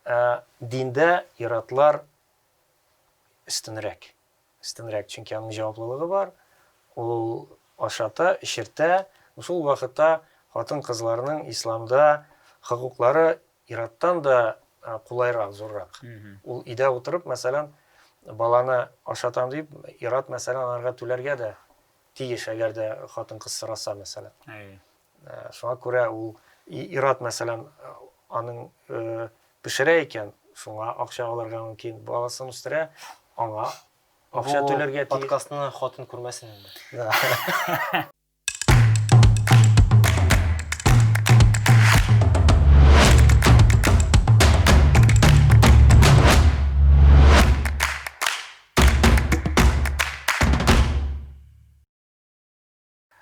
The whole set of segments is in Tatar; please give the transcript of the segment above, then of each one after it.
Ә диндә ир-атлар өстенрәк. Өстенрәк, чөнки аның җаваплылыгы бар, ул ашата, эчертә. Шул вакытта хатын-кызларның исламда хокуклары ир-аттан да кулайрак, зуррак. Ул өйдә утырып, мәсәлән, баланы ашатам дип, ир-ат, мәсәлән, аларга түләргә дә тиеш, әгәр дә хатын-кыз сораса, мәсәлән. Шуңа күрә ул ир-ат мәсәлән аның пешерә икән, шуңа акча алырга мөмкин, баласын үстерә, аңа акча түләргә тиеш. Бу подкастны хатын күрмәсен инде.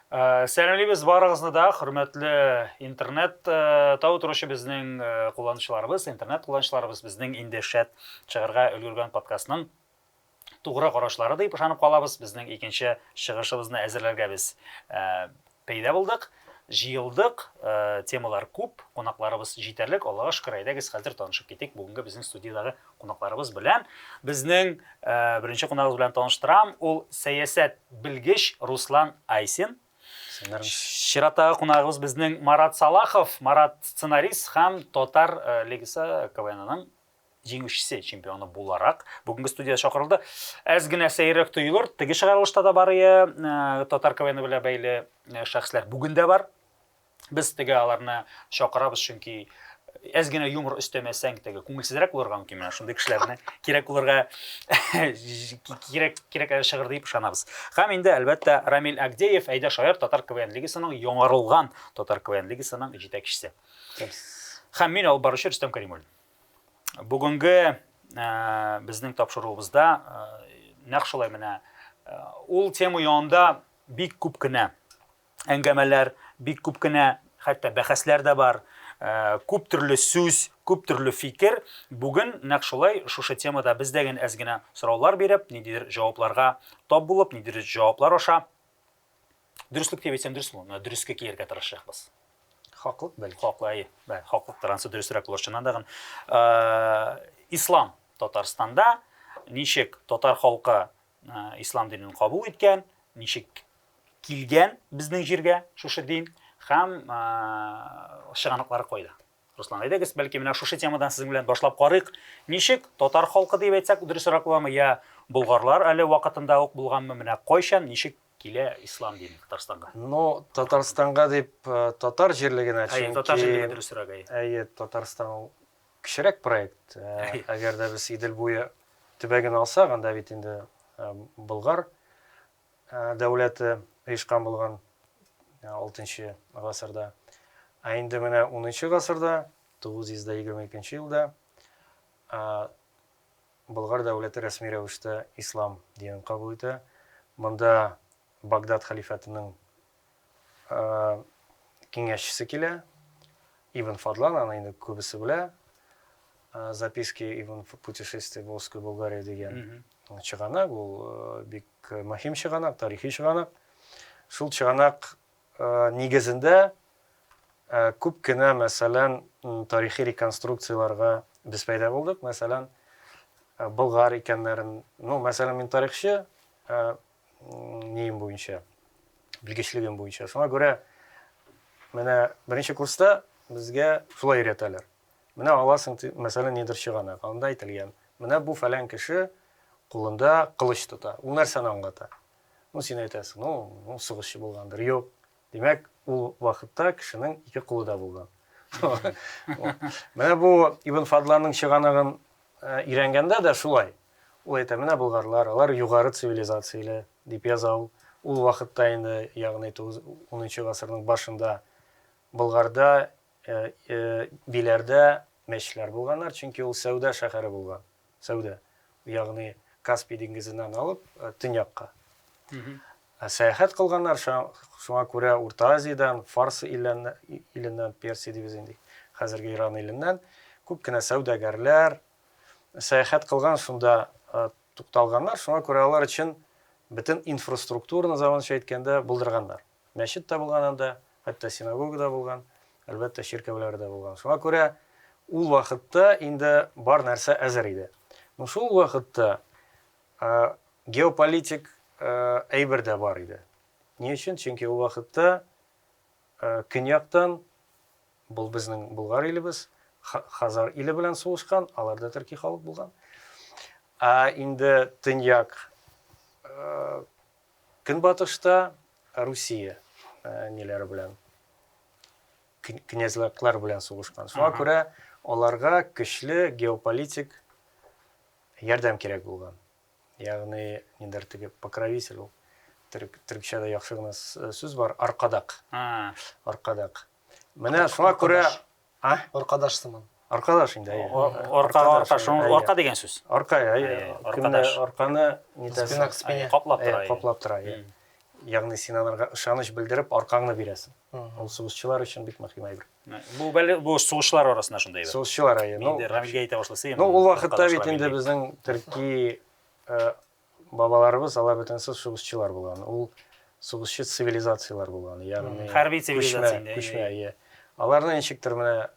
Э, сәламлибез барыгызны да, хөрмәтле интернет э, тау торучы безнең э, кулланучыларыбыз, интернет кулланучыларыбыз безнең инде шәт чыгарга өлгергән подкастның тугры карашлары дип ышанып калабыз. Безнең икенче чыгышыбызны әзерләргә без пәйда булдык, җыелдык, темалар күп, кунакларыбыз җитәрлек. Аллага шөкер, әйдәгез хәзер танышып китик бүгенге безнең студиядәге Кунакларыбыз белән безнең беренче кунагыбыз белән таныштырам. Ул сәясәт белгеч Руслан Айсин. Чираттагы кунагыбыз безнең Марат Салахов. Марат сценарист һәм Татар э, лигасы КВНның җиңүчесе, чемпионы буларак бүгенге студия чакырылды. Әз генә сәйрәк тоелыр, теге чыгарылышта да бар ие, э, Татар КВНы белән бәйле э, шәхесләр бүген дә бар. Без теге аларны чакырабыз, чөнки әз генә юмор өстәмәсәң, теге күңелсезрәк булырга мөмкин. Менә шундый кешеләрне кирәк булырга кирәк кирәк шыгыр дип ышанабыз. Һәм инде әлбәттә Рамил Агдеев, Әйдә шаяр татар КВН лигасының яңарылган татар КВН лигасының җитәкчесе. Һәм мин алып баручы Рөстәм Кәримуллин. Бүгенге э, безнең тапшыруыбызда э, нәкъ шулай менә э, ул тема янында бик күп кенә әңгәмәләр, бик күп кенә хәтта бәхәсләр дә бар, күп төрле сүз, күп төрле фикер. Бүген нәкъ шулай шушы темада без дә генә әз генә сораулар биреп, ниндидер җавапларга тап булып, ниндидер җаваплар аша дөреслек дип әйтсәм дөрес булмый, дөрескә кияргә тырышачакбыз. Хаклык бәлки. Хаклы, әйе. Бәлки хаклыктыр, ансы дөресрәк булыр чыннан да гына. Ислам Татарстанда ничек, татар халкы ислам динен кабул иткән, ничек килгән безнең җиргә шушы дин һәм чыганаклары кайда? Руслан, әйдәгез, бәлки менә шушы темадан сезнең белән башлап карыйк. Ничек татар халкы дип әйтсәк, дөресрәк буламы, я болгарлар әле вакытында ук булганмы, менә кайчан, ничек килә ислам дине Татарстанга? Ну, Татарстанга дип татар җирлегенә, чөнки Әйе, татар җирлеге дөресрәк, әйе. Әйе, Татарстан Кечерәк проект, әгәр дә без Идел буе төбәген алсак, анда бит инде Болгар дәүләте оешкан булган алтынчы гасырда. Ә инде менә унынчы гасырда, 922 елда Болгар дәүләте рәсми рәвештә ислам динен кабул итә. Монда Багдад хәлифәтенең киңәшчесе килә. Ибн Фадлан, аны инде күбесе белә. Записки Ибн путешествия в Волжской Болгарии дигән чыганак, ул бик мөһим чыганак, тарихи чыганак. Шул чыганак нигезендә күп кенә, мәсәлән, тарихи реконструкцияләргә без пәйда булдык. Мәсәлән, Болгар икәннәрен, ну, мәсәлән, мин тарихчы, неем буенча белгечлегем буенча шуңа күрә менә беренче курста безгә шулай өйрәтәләр менә аласың мәсәлән нидер чыганак анда әйтелгән менә бу фәлән кеше кулында кылыч тота ул нәрсәне аңлата ну син әйтәсең ну сугышчы булгандыр юк Димәк, ул вакытта кешенең ике кулы да булган. Менә бу Ибн Фадланның чыганыгын өйрәнгәндә дә шулай. Ул әйтә, менә болгарлар, алар югары цивилизацияле дип яза ул. Ул вакытта инде, ягъни 10 гасырның башында Болгарда, Биләрдә мәчетләр булганнар, чөнки ул сәүдә шәһәре булган. Сәүдә, ягъни Каспий диңгезеннән алып төньякка. Ә сәяхәт кылганнар, шуңа күрә Урта Азиядән, Фарс иленнән, Персия дибез инде, хәзерге Иран иленнән күп кенә сәүдәгәрләр сәяхәт кылган, шунда тукталганнар, шуңа күрә алар өчен бөтен инфраструктураны, заманча әйткәндә, булдырганнар. Мәчет тә булган анда, хәтта синагога да булган, әлбәттә, чиркәүләре дә булган. Шуңа күрә ул вакытта инде бар нәрсә әзер иде. Ну, шул вакытта геополитик әйбер дә бар иде. Ни өчен? Чөнки ул вакытта көньяктан бул безнең Болгар илебез Хазар иле белән сугышкан, алар да төрки халык булган. Ә инде төньяк Көнбатышта Русия ниләре белән князьлыклар белән сугышкан. Шуңа күрә аларга көчле геополитик ярдәм кирәк булган. Ягъни ниндер теге покровитель ул. Төркчәдә яхшы гына сүз бар, аркадак. Аркадак. Менә шуңа күрә А? Аркадаш сыман. Аркадаш инде, әйе. Аркага арка, шуның арка дигән сүз. Арка, әйе. Аркадаш. Арканы нитәсең? Спина к спине. Каплап тора. Әйе, каплап тора, әйе. Ягъни син аларга ышаныч белдереп, аркаңны бирәсең. Ул сугышчылар өчен бик мөһим әйбер. Бу бәле бу сугышчылар арасында шундый әйбер. Сугышчылар, әйе. Ну, Рамилгә әйтә башласа, Ну, ул вакытта бит инде безнең төрки Бабаларыбыз алар бөтенесе сугышчылар булган. Ул сугышчы цивилизацияләр булган. Ягъни хәрби цивилизация инде. Күчмә, әйе. Аларны ничектер менә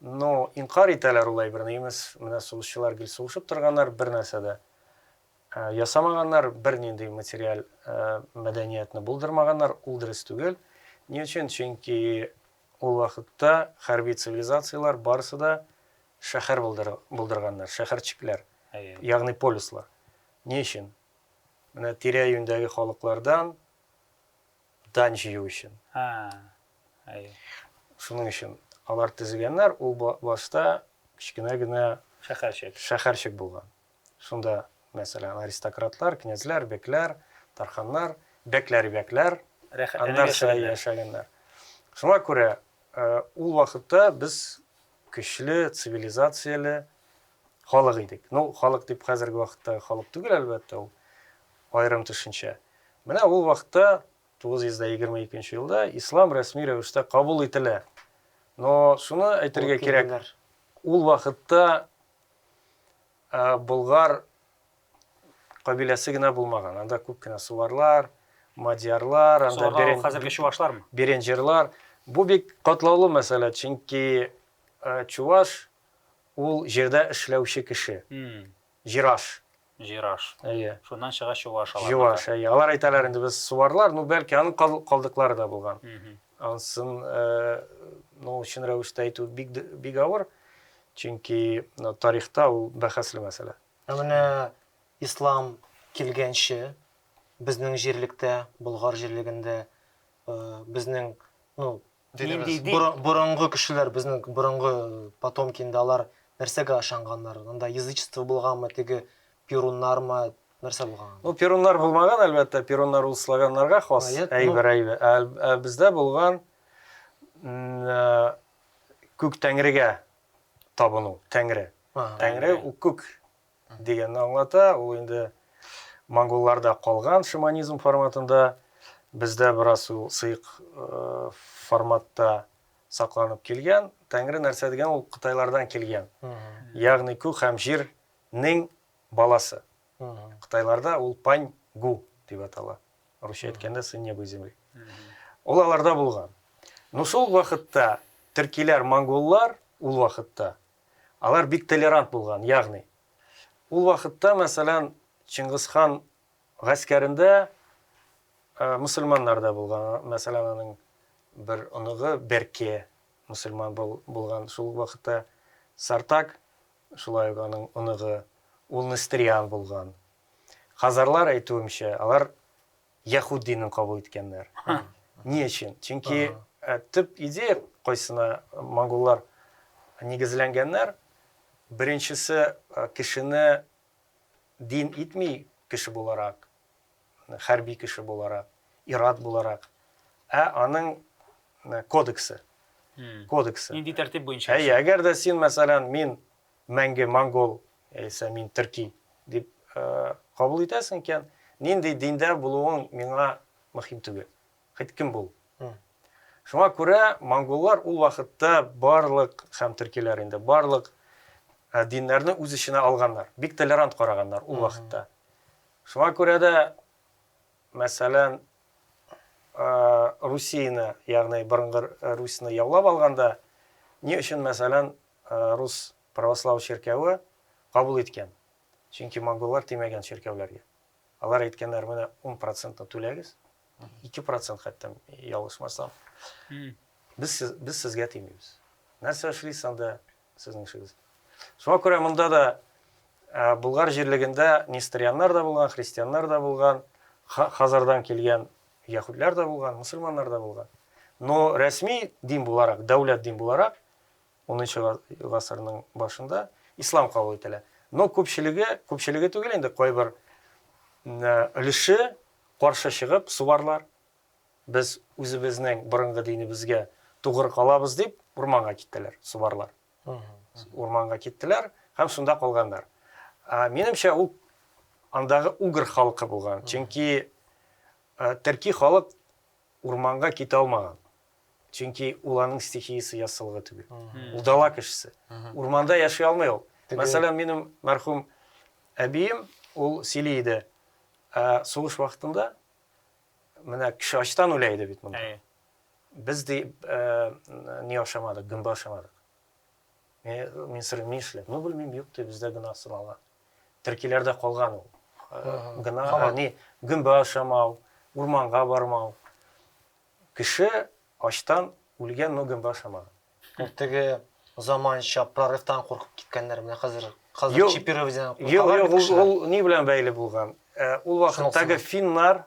ну, инкар итәләр улай бер немец, менә сугышчылар гел сугышып торганнар, бер нәрсә дә ясамаганнар, бер нинди материаль мәдәниятне булдырмаганнар, ул дөрес түгел. Ни өчен? Чөнки ул вакытта хәрби цивилизацияләр барысы да шәһәр булдырганнар, шәһәрчекләр. ягъни полюслар. Ни өчен? Менә тирә-юньдәге халыклардан дань җыю өчен. Шуның өчен алар төзегәннәр, ул башта кечкенә генә шәһәрчек. Шәһәрчек булган. Шунда, мәсәлән, аристократлар, князьләр, бекләр, тарханнар, бәкләр, бәкләр, аннарча яшәгәннәр. Шуңа күрә ул вакытта без көчле, цивилизацияле Халык идек. Ну, халык дип хәзерге вакыттагы халык түгел, әлбәттә, ул аерым төшенчә. Менә ул вакытта, 922 нче елда, ислам рәсми рәвештә кабул ителә. Но шуны әйтергә кирәк, ул вакытта болгар кабиләсе генә булмаган, анда күп кенә суварлар, мадьярлар, анда берен... хәзерге чувашлармы? Беренҗерлар. Бу бик катлаулы мәсьәлә, чөнки чуваш Ул, җирдә эшләүче кеше. Җираш. Җираш. Әйе. Шуннан чыга чуваш алар. Чуваш, әйе. Алар әйтәләр инде, без суварлар, ну, бәлки, аның калдыклары да булган. Ансын, ну, чын рәвештә әйтү бик авыр, чөнки тарихта ул бәхәсле мәсьәлә. Ә менә ислам килгәнче безнең җирлектә, Болгар җирлегендә безнең, ну, Дидебез. Борынгы кешеләр, безнең борынгы потомки инде алар нәрсәгә ышанганнар? Анда язычество булганмы, теге перуннармы, нәрсә булган? Ну, перуннар булмаган, әлбәттә, перуннар ул славяннарга хас әйбер, әйбер. Ә бездә булган күк тәңрегә табыну, тәңре. Тәңре ул күк. Дигәнне аңлата. Ул инде монголларда калган шаманизм форматында, бездә бераз ул сыек форматта сакланып килгән. Тәңре нәрсә дигән ул кытайлардан килгән. Ягъни күк һәм җирнең баласы. Кытайларда ул пань гу дип атала. Русча әйткәндә сын неба и земли. Ул аларда булган. Ну шул вакытта төркиләр, монголлар ул вакытта Алар бик толерант булган, ягъни. Ул вакытта, мәсәлән, Чыңгыз хан гаскәрендә мөселманнар да булган. Мәсәлән, аның бер оныгы Берке мөселман булган. Шул ук вакытта Сартак, шулай ук аның оныгы, ул нестриан булган. Хазарлар әйтүемчә, алар Яхуд динен кабул иткәннәр. Ни өчен? Чөнки э, төп идея кайсына монголлар нигезләнгәннәр. Беренчесе э, кешене дин итми кеше буларак, хәрби кеше буларак, ират буларак, ә аның э, кодексы. Кодексы. Нинди тәртип буенча? Әйе, әгәр дә син, мәсәлән, мин Мәңге монгол яисә мин төрки дип кабул итәсең икән, нинди диндә булуың миңа мөһим түгел. Хоть кем бул. Шуңа күрә монголлар ул вакытта барлык һәм төркиләр инде барлык диннәрне үз эченә алганнар. Бик толерант караганнар ул вакытта. Шуңа күрә дә, мәсәлән, Русияне, ягъни борынгы Русияне яулап алганда, ни өчен, мәсәлән, рус правослау чиркәве кабул иткән, чөнки монголлар тимәгән чиркәүләргә. Алар әйткәннәр, менә ун процентны түләгез, ике процент хәтта ялгышмасам, без, без сезгә тимибез. Нәрсә эшлисез анда сезнең эшегез? Шуңа күрә монда да Болгар җирлегендә нестерианнар да булган, христианнар да булган, Хазардан килгән яһүдләр дә булган, мусульманнар да булган. Но рәсми дин буларак, дәүләт дин буларак Унынчы гасырның башында ислам кабул ителә. Но күпчелеге, күпчелеге түгел инде, кайбер өлеше каршы чыгып, субарлар, без үзебезнең борынгы динебезгә тугры калабыз дип, урманга киттеләр, субарлар. Урманга киттеләр һәм шунда калганнар. Минемчә, ул андагы угр халкы булган. Чөнки төрки халык Урманга китә алмаган. Чөнки ул аның стихиясе яссылыгы түгел. Ул дала кешесе. Урманда яши алмый ул. Мәсәлән, минем мәрхүм әбием, ул сөйли иде, сугыш вакытында менә кеше ачтан үлә иде бит монда. Без ди не ашамадык, гөмбә ашамадык. Мин сорыйм, ни эшләп? Ну, белмим, юк ди, бездә гына сынала. Төркиләрдә калган ул. Гына, әни, гөмбә ашамау, урманга бармау. Кеше ачтан үлгән, но гөмбә ашамаган. Ну, теге заманча прорывтан куркып киткәннәр, менә хәзер, хәзер чипирование куркалар бит кешеләр. Юк, юк, ул ни белән бәйле булган? Ул вакыттагы финнар,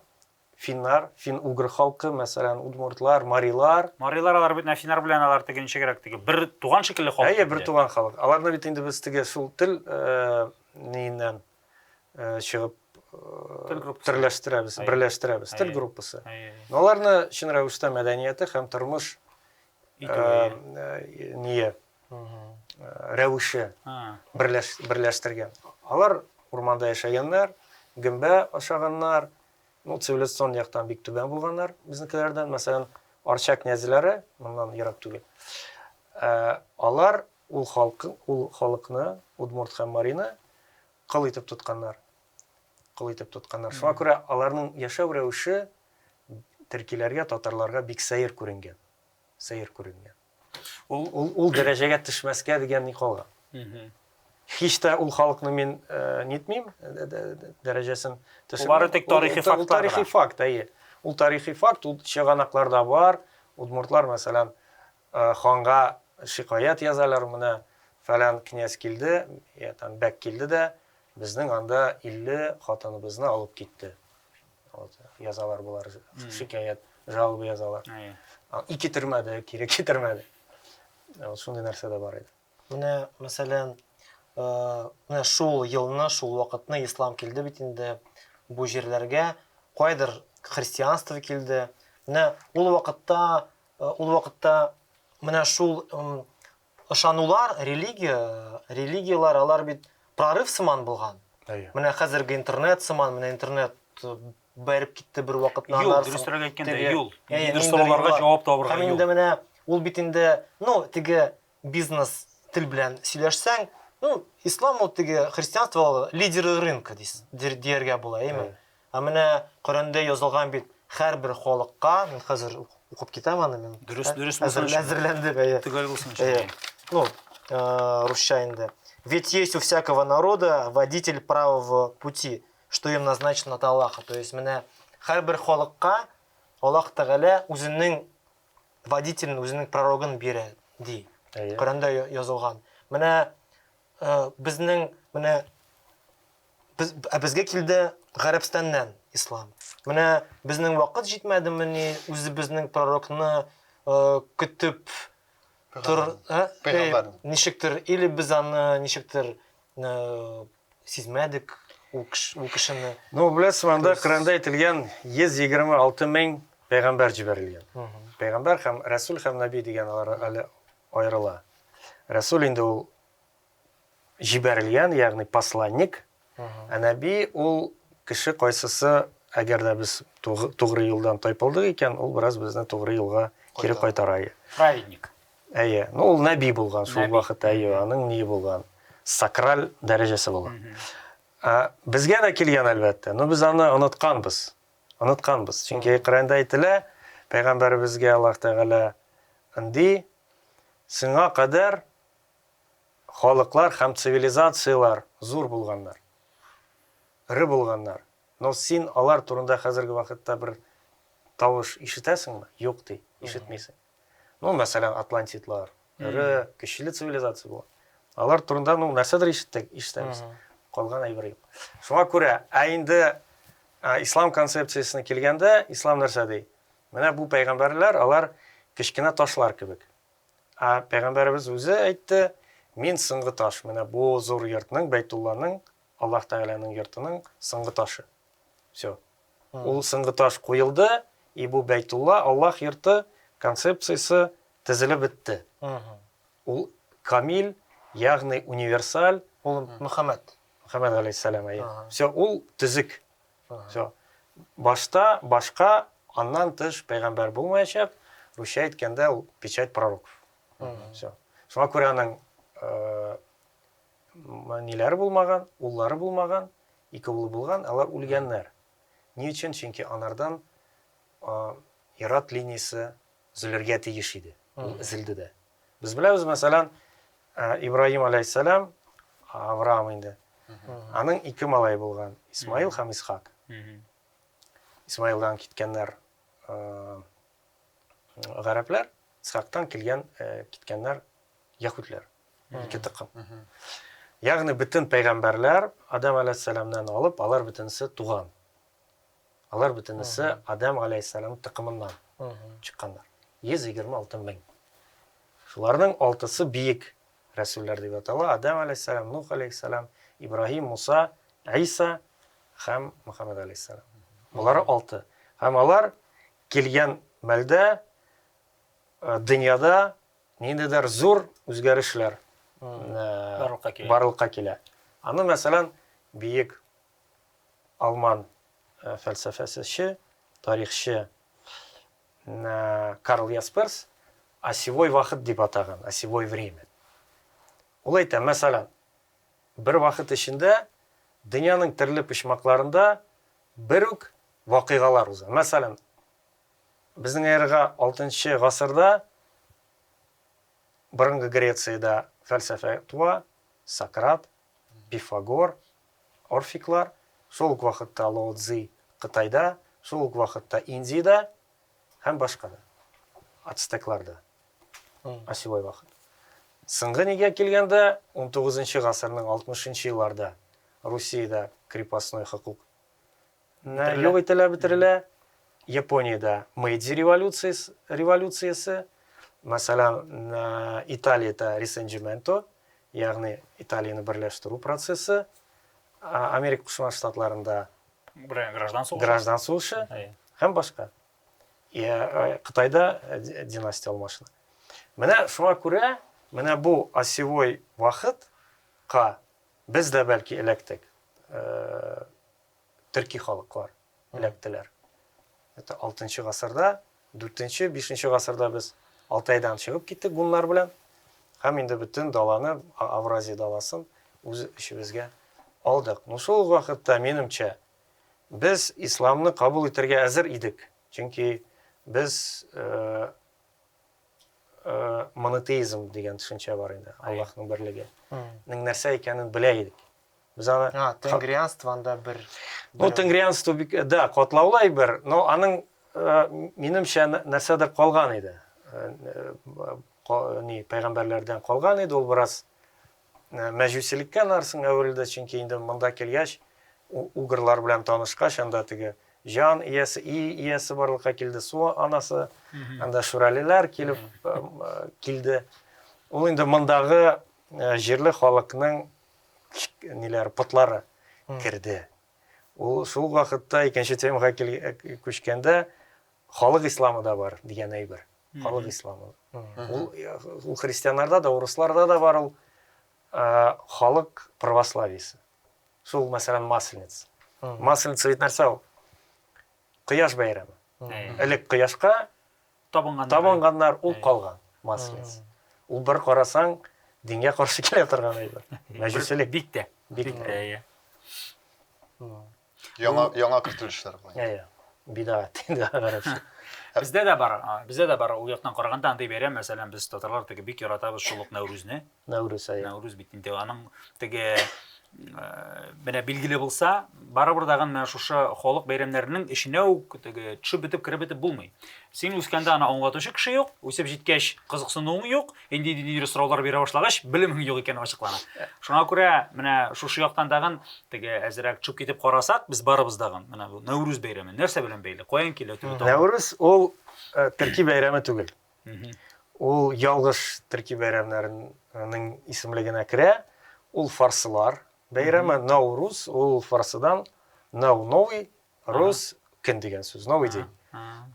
Финнар, фин-угр халкы, мәсәлән, удмуртлар, марилар. Марилар алар бит менә финнар белән алар теге ничегрәк теге бер туган шикелле халык. Әйе, бер туган халык. Аларны бит инде без теге шул тел ниеннән чыгып төрләштерәбез, берләштерәбез, тел группасы. Но аларны чын рәвештә мәдәнияте һәм тормыш ние рәвеше берләштергән. Алар урманда яшәгәннәр, гөмбә ашаганнар, Ну, цивилизацион яктан бик түбән булганнар безнекеләрдән. Мәсәлән, Арча князьләре, моннан ерак түгел. Ә, алар ул халкы, ул халыкны, удмурт һәм марины кыл итеп тотканнар. Кыл итеп тотканнар. Шуңа күрә аларның яшәү рәвеше төркиләргә, татарларга бик сәер күренгән. Сәер күренгән. Ул, ул, ул дәрәҗәгә төшмәскә дигән ни калган. Һич тә ул халыкны мин э, нитмим, дәрәҗәсен төшермим. Бары тик тарихи факт. Ул тарихи факт, әйе. Ул тарихи факт, ул чыганакларда бар. Удмуртлар, мәсәлән, э, ханга шикаят язалар, менә фәлән князь килде, я там бәк килде дә, безнең анда 50 хатыныбызны алып китте. вот язалар болар шикаят жалоба язалар и китермәде кире китермәде вот шундый нәрсә дә бар иде менә мәсәлән менә шул елны шул вакытны ислам килде бит инде бу җирләргә кайдыр христианство килде менә ул вакытта ул вакытта менә шул Ышанулар, религия, религияләр алар бит прорыв сыман булган. Әйе. Менә хәзерге интернет сыман, менә интернет бәреп китте бер вакытна Юл, дөресрәк әйткәндә, юл. Ниндидер сорауларга җавап табарга юл. Һәм инде менә ул бит инде, ну, теге бизнес тел белән сөйләшсәң, ну, ислам ул теге христианство лидеры рынка дияргә була, әйеме? Ә менә Коръәндә язылган бит, һәрбер халыкка, мин хәзер укып китәм аны мин. Дөрес, дөрес булсын. Әзерләндек, әйе. Төгәл булсын. Әйе. Ну, э, русча инде. Ведь есть у всякого народа водитель правого пути, что им назначено от Аллаха. То есть менә һәрбер халыкка Аллах Тәгалә үзенең водителен, үзенең пророгын бирә, ди. Коръәндә язылган. Менә Э, безнең менә без ә безгә килде гарәбстаннан ислам менә безнең вакыт җитмәдемени үзебезнең пророкны э, көтеп тор ә? Пәйгамбәрне. Э, ничектер или без аны ничектер э, сизмәдек ул кеш- ул кешене Ну, беләсез, анда Күрсез. Коранда әйтелгән 126 мең пәйгамбәр җибәрелгән. Пәйгамбәр һәм Рәсүл һәм Наби дигән алар әле аерыла. Рәсүл инде ул җибәрелгән, ягъни посланник, ә нәби ул кеше кайсысы, әгәр дә без тугры юлдан тайпылдык икән, ул бераз безне тугры юлга кире кайтара. Праведник. Әйе. Ну, ул нәби булган шул вакыт, әйе, аның ни булган? Сакраль дәрәҗәсе булган. Безгә дә килгән, әлбәттә, но без аны онытканбыз. Онытканбыз. Чөнки Коръәндә әйтелә, пәйгамбәребезгә Аллаһ Тәгалә ди, Сиңа кадәр халыклар һәм цивилизацияләр зур булганнар, эре булганнар, но син алар турында хәзерге вакытта бер тавыш ишетәсеңме? Юк, ди, ишетмисең. Ну, мәсәлән, атлантидлар, эре, көчле цивилизация булган. Алар турында, ну, нәрсәдер ишеттек, ишетәбез. Калган әйбер юк. Шуңа күрә, ә инде ислам концепциясенә килгәндә, ислам нәрсә ди? Менә бу пәйгамбәрләр, алар кечкенә ташлар кебек. Ә пәйгамбәребез үзе әйтте, мин соңгы таш, менә бу зур йортның, Бәйтулланың, Аллаһ Тәгаләнең йортының соңгы ташы. Все. Ул соңгы таш куелды, и бу Бәйтулла, Аллаһ йорты, концепциясе тезелеп бетте. Ул камил, ягъни универсаль. Ул Мөхәммәд. Мөхәммәд галәйһиссәлам, әйе. Все, ул төзек. Все. Башта башка, аннан тыш пәйгамбәр булмаячак. Русча әйткәндә ул печать пророков. Все. Шуңа күрә аның э, Ниләре булмаган? Уллары булмаган, ике улы булган, алар үлгәннәр. Ни өчен? Чөнки анардан ир-ат линиясе өзелергә тиеш иде. Ул өзелде дә. Без беләбез, мәсәлән, Ибраһим алейһиссәлам, Авраам инде, аның ике малае булган, Исмаил һәм Исхак. Исмаилдан киткәннәр гарәпләр, Исхактан килгән, киткәннәр яһүдләр. Ике токым. Ягъни бөтен пәйгамбәрләр Адам алейһиссаламнан алып, алар бөтенесе туган. Алар бөтенесе Адам алейһиссалам токымыннан чыкканнар. 126 мең. Шуларның алтысы биек рәсүлләр дип атала. Адам алейһиссалам, Нух алейһиссалам, Ибраһим, Муса, Иса һәм Мухаммад алейһиссалам. Булары алты. Һәм алар килгән мәлдә дөньяда ниндидер зур үзгәрешләр барлыкка килә. Аны, мәсәлән, биек алман фәлсәфәсече, тарихчы Карл Ясперс осевой вакыт дип атаган, осевой время. Ул әйтә, мәсәлән, бер вакыт эчендә дөньяның төрле почмакларында бер үк вакыйгалар уза. Мәсәлән, безнең эрага алтынчы гасырда борынгы Грециядә фәлсәфә туа, Сократ, Пифагор, орфиклар, шул ук вакытта Лао Цзи Кытайда, шул ук вакытта Индиядә һәм башка да, ацтекларда, осевой вакыт. Соңгы нигә килгәндә, 19 гасырның 60 елларда Русиядә крепостной хокук На юк ителә бетерелә япониядә мэйдзи революциясе мәсәлән италиядә ресенджименто ягъни италияне берләштерү процессы америка кушма штатларында граждан сугышы граждан сугышы һәм башка кытайда династия алмашына менә шуңа күрә менә бу осевой вакытка без дә бәлки эләктек төрки халыклар эләктеләр. Это алтынчы гасырда, дүртенче, бишенче гасырда без Алтайдан чыгып киттек гуннар белән. Һәм инде бөтен даланы, Авразия даласын үз эчебезгә алдык. Ну шул вакытта, минемчә, без исламны кабул итәргә әзер идек. Чөнки без монотеизм дигән төшенчә бар инде, Аллаһның берлеге. Нәрсә икәнен белә идек. Мисалы, а, тенгрианство анда бер. Ну, тенгрианство бик, э, да, катлаулы әйбер, но аның э, минемчә нәрсәдер калган иде. Э, ни, пәйгамбәрләрдән калган иде, ул бераз мәҗүсилеккә нарсын әверелде, чөнки инде монда килгәч, угырлар белән танышкач, анда теге жан иясе, и иясе барлыкка килде, су анасы, анда шүрәлеләр килеп килде. Ул инде мондагы җирле халыкның ниләр потлары керде. Ул шул вакытта икенче темага күчкәндә халык исламы да бар дигән әйбер. Халык исламы. Ул ул христианнарда да, урысларда да бар ул халык православиесе. Шул мәсәлән масленица. Масленица бит нәрсә ул? Кояш бәйрәме. Элек кояшка Табынганнар. Табынганнар, ул калган, маслец. Ул бер карасаң, дингә каршы килә торган әйбер. Мәҗүсилек. Бик тә. Бик тә, әйе. Яңа, яңа кертелешләр бу. Әйе. Бидат инде гарәпчә. Бездә дә бар, бездә дә бар ул яктан караганда андый бәйрәм, мәсәлән, без татарлар теге бик яратабыз шул ук Нәүрүзне. Нәүрүз ае. Нәүрүз бит инде аның теге менә билгеле булса, барыбер дә менә шушы халык бәйрәмнәренең эченә үк теге төшеп бетеп кереп бетеп булмый. Син үскәндә аны аңлатучы кеше юк, үсеп җиткәч кызыксынуың юк, инде ниндидер сораулар бирә башлагач, белемең юк икән ачыклана. Шуңа күрә менә шушы яктан тагын теге әзрәк төшеп китеп карасак, без барыбыз дагы менә бу Нәүрүз бәйрәме нәрсә белән бәйле, каян килә төбе? Нәүрүз ул төрки бәйрәме түгел. Ул ялгыш төрки бәйрәмнәренең исемлегенә керә. Ул фарсылар бәйрәме, Наурус, ул фарсыдан Нау новый, Рус көн дигән сүз, новый день.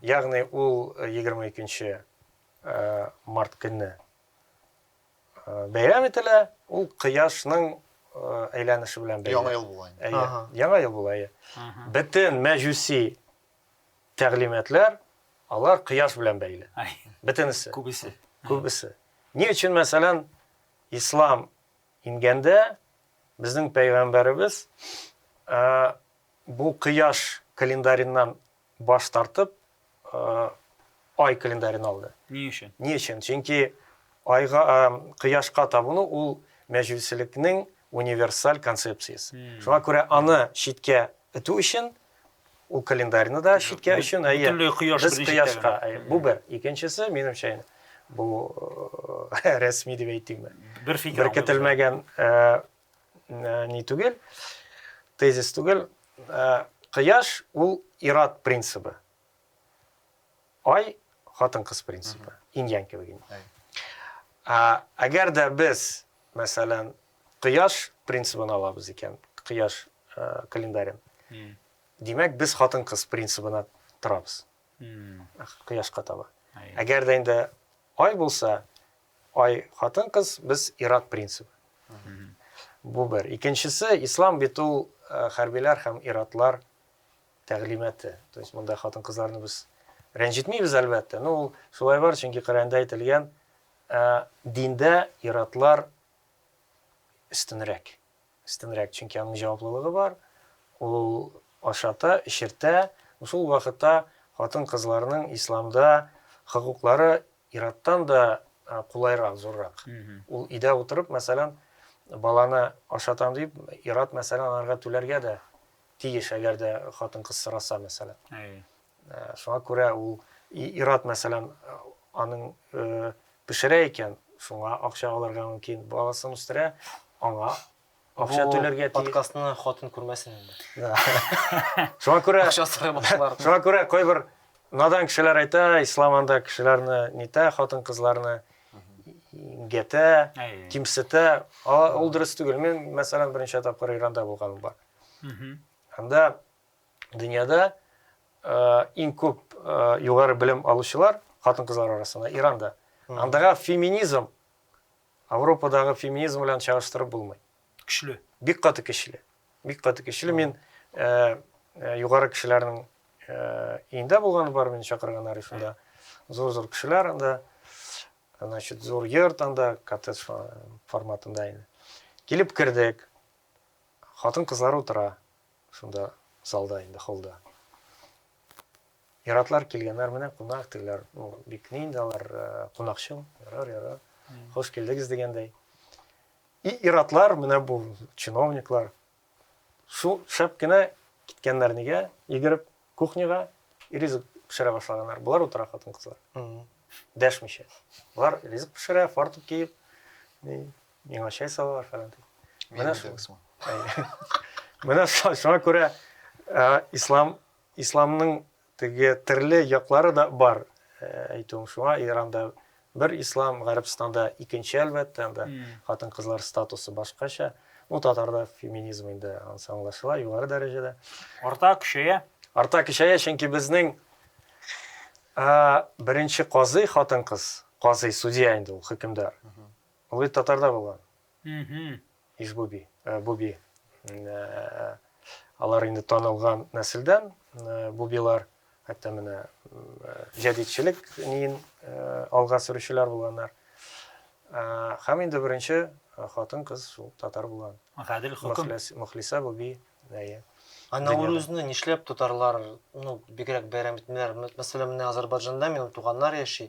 Ягъни ул 22 э, э, март көнне э, бәйрәм ителә, ул кояшның әйләнеше белән бәйле. Яңа ел була. Яңа ел була. Бөтен мәҗүси тәгълиматлар, алар кояш белән бәйле. Бөтенесе. Күбесе. Күбесе. Ни өчен, мәсәлән, ислам ингәндә безнең пәйгамбәребез бу кояш календареннан баш тартып, ай календарен алды. Ни өчен? Ни өчен? Чөнки айга кояшка табыну ул мәҗүсилекнең универсаль концепциясе. Шуңа күрә аны читкә итү өчен Ул календарьны да читкә өчен, әйе. Бөтенләй кояш без кояшка. Бу бер. Икенчесе, минемчә, бу рәсми дип әйтимме? Бер фикер. Бер көтелмәгән ни түгел, тезис түгел. Кояш ул ират принцибы. Ай, хатын-кыз принципы, инь-янь кебек инде. Ә, әгәр дә без, мәсәлән, кояш принцибын алабыз икән, кояш э, календарен, димәк, без хатын-кыз принцибына торабыз. Кояшка таба. Әгәр дә инде ай булса, ай хатын-кыз, без ирак принцибы. Бу бер. Икенчесе, ислам бит ул э, хәрбиләр һәм иратлар тәгълиматы. То есть монда хатын-кызларны без рәнҗетмибез, әлбәттә. Но ул шулай бар, чөнки Коръәндә әйтелгән, ә, диндә иратлар өстенрәк. Өстенрәк, чөнки аның җаваплылыгы бар. Ул ашата, эчертә. Шул вакытта хатын-кызларның исламда хокуклары ираттан да кулайрак, зуррак. Ул өйдә утырып, мәсәлән, баланы ашатам дип, ират мәсәлән анарга түләргә дә тиеш, әгәр дә хатын-кыз сораса, мәсәлән. Әйе. Э, шуңа күрә ул ир-ат, мәсәлән, аның э, пешерә икән, шуңа акча алырга мөмкин, баласын үстерә, аңа акча түләргә тиеш. Подкастны хатын күрмәсен инде. Шуңа күрә акча сорый башлар. Шуңа күрә кайбер надан кешеләр әйтә, ислам анда кешеләрне нитә, хатын-кызларны гәтә, кимсетә. Ул дөрес түгел. Мин, мәсәлән, беренче тапкыр Иранда булганым бар. Анда дөньяда иң күп югары белем алучылар хатын-кызлар арасында Иранда. Андагы феминизм Европадагы феминизм белән чагыштырып булмый. Көчле. Бик каты көчле. Бик каты көчле. Мин югары кешеләрнең өендә булганы бар, мин чакырган арифында. Зур-зур кешеләр анда. Значит, зур йорт анда, коттедж форматында инде. Килеп кердек. Хатын-кызлар утыра шунда залда инде, холлда. Иратлар килгәннәр, менә кунак диләр. Ну, бик ни инде алар э, кунакчыл. Ярар, ярар. Хош килдегез дигәндәй. И иратлар, менә бу чиновниклар. Шул шәп кенә киткәннәр нигә? Йөгереп кухняга ризык пешерә башлаганнар. Болар утыра хатын-кызлар. Дәшмичә. Болар ризык пешерә, фартук киеп, ни, Миңа чәй салалар фәлән дип. Менә шул. Менә шуңа күрә ислам исламның теге төрле яклары да бар э, әйтүем шуңа иранда бер ислам гарәбстанда икенче әлбәттә анда хатын кызлар статусы башкача ну татарда феминизм инде анысы аңлашыла югары дәрәҗәдә арта көчәя арта көчәя чөнки безнең ә, беренче казый хатын кыз казый судья инде ул хөкемдар Мохит татарда булган. Ижбуби, буби. Алар инде танылган нәселдән, бубилар. Хәтта менә җәдидчелек ниен алга сөрүчеләр булганнар. Һәм инде беренче хатын кыз шул татар булган. Гадел хөкем. Мөхлисә буби. Әйе. Наурызны нишләп татарлар, ну, бигрәк бәйрәм итмиләр? Мәсәлән, менә Азәрбайҗанда минем туганнар яши,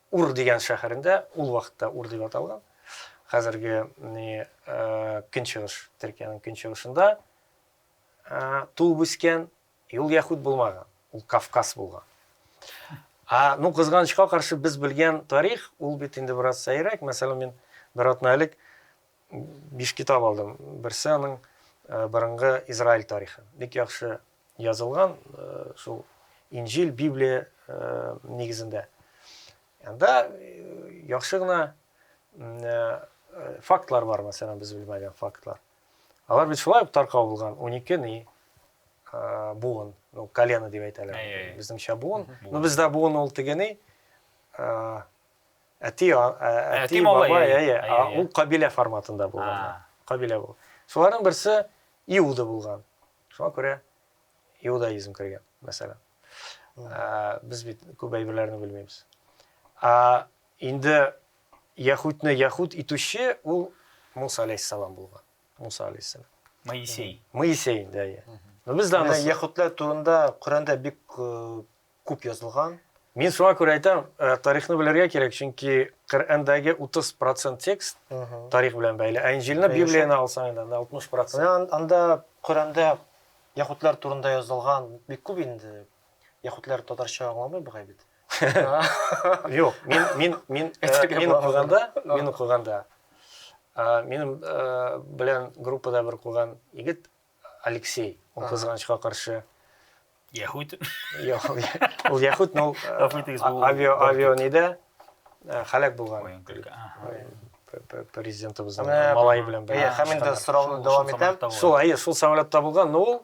Ур дигән шәһәрендә, ул вакытта Ур дип аталган, хәзерге көнчыгыш, Төркиянең көнчыгышында туып үскән, ул яһүд булмаган, ул Кавказ булган. Ну, кызганычка каршы, без белгән тарих, ул бит инде бераз сәеррәк. Мәсәлән, мин бер атна элек биш китап алдым. Берсе аның борынгы Израиль тарихы. Бик яхшы Язылган шул Инҗил, Библия нигезендә. Анда яхшы гына фактлар бар, мәсәлән, без белмәгән фактлар. Алар бит шулай ук таркау булган, 12 ни буын, ну, колено дип әйтәләр. Безнеңчә буын. Ну, бездә буын ул теге ни, әти, әти, баба, әйе, ул кабилә форматында булган. Кабилә бу. Шуларның берсе Иуда булган. Шуңа күрә иудаизм кергән, мәсәлән. Без бит күп әйберләрне белмибез. А инде яхудны яхуд итүче ул Муса алейхиссалам булган. Муса алейхиссалам. Моисей. Моисей, да, я. Но без дә аны яхудлар турында Коранда бик э, күп язылган. Мин шуңа күрә әйтәм, тарихны белергә кирәк, чөнки Коръәндәге 30 процент текст тарих белән бәйле, ә Инҗилне, Библияне алсаң инде, анда 60 процент. Анда Коръәндә яһүдләр турында язылган бик күп инде. Яһүдләр татарча аңламый бугай бит. Юк, мин, мин, мин, мин укыганда, мин укыганда, минем белән группада бер укыган егет, Алексей, ул кызганычка каршы Яхут. Ул Яхут, но авиа авиа ниде? Халак булган. Президентыбызның малай белән бер. Әйе, һәм инде сорауны дәвам итәм. Шул, әйе, шул самолет табылган, но ул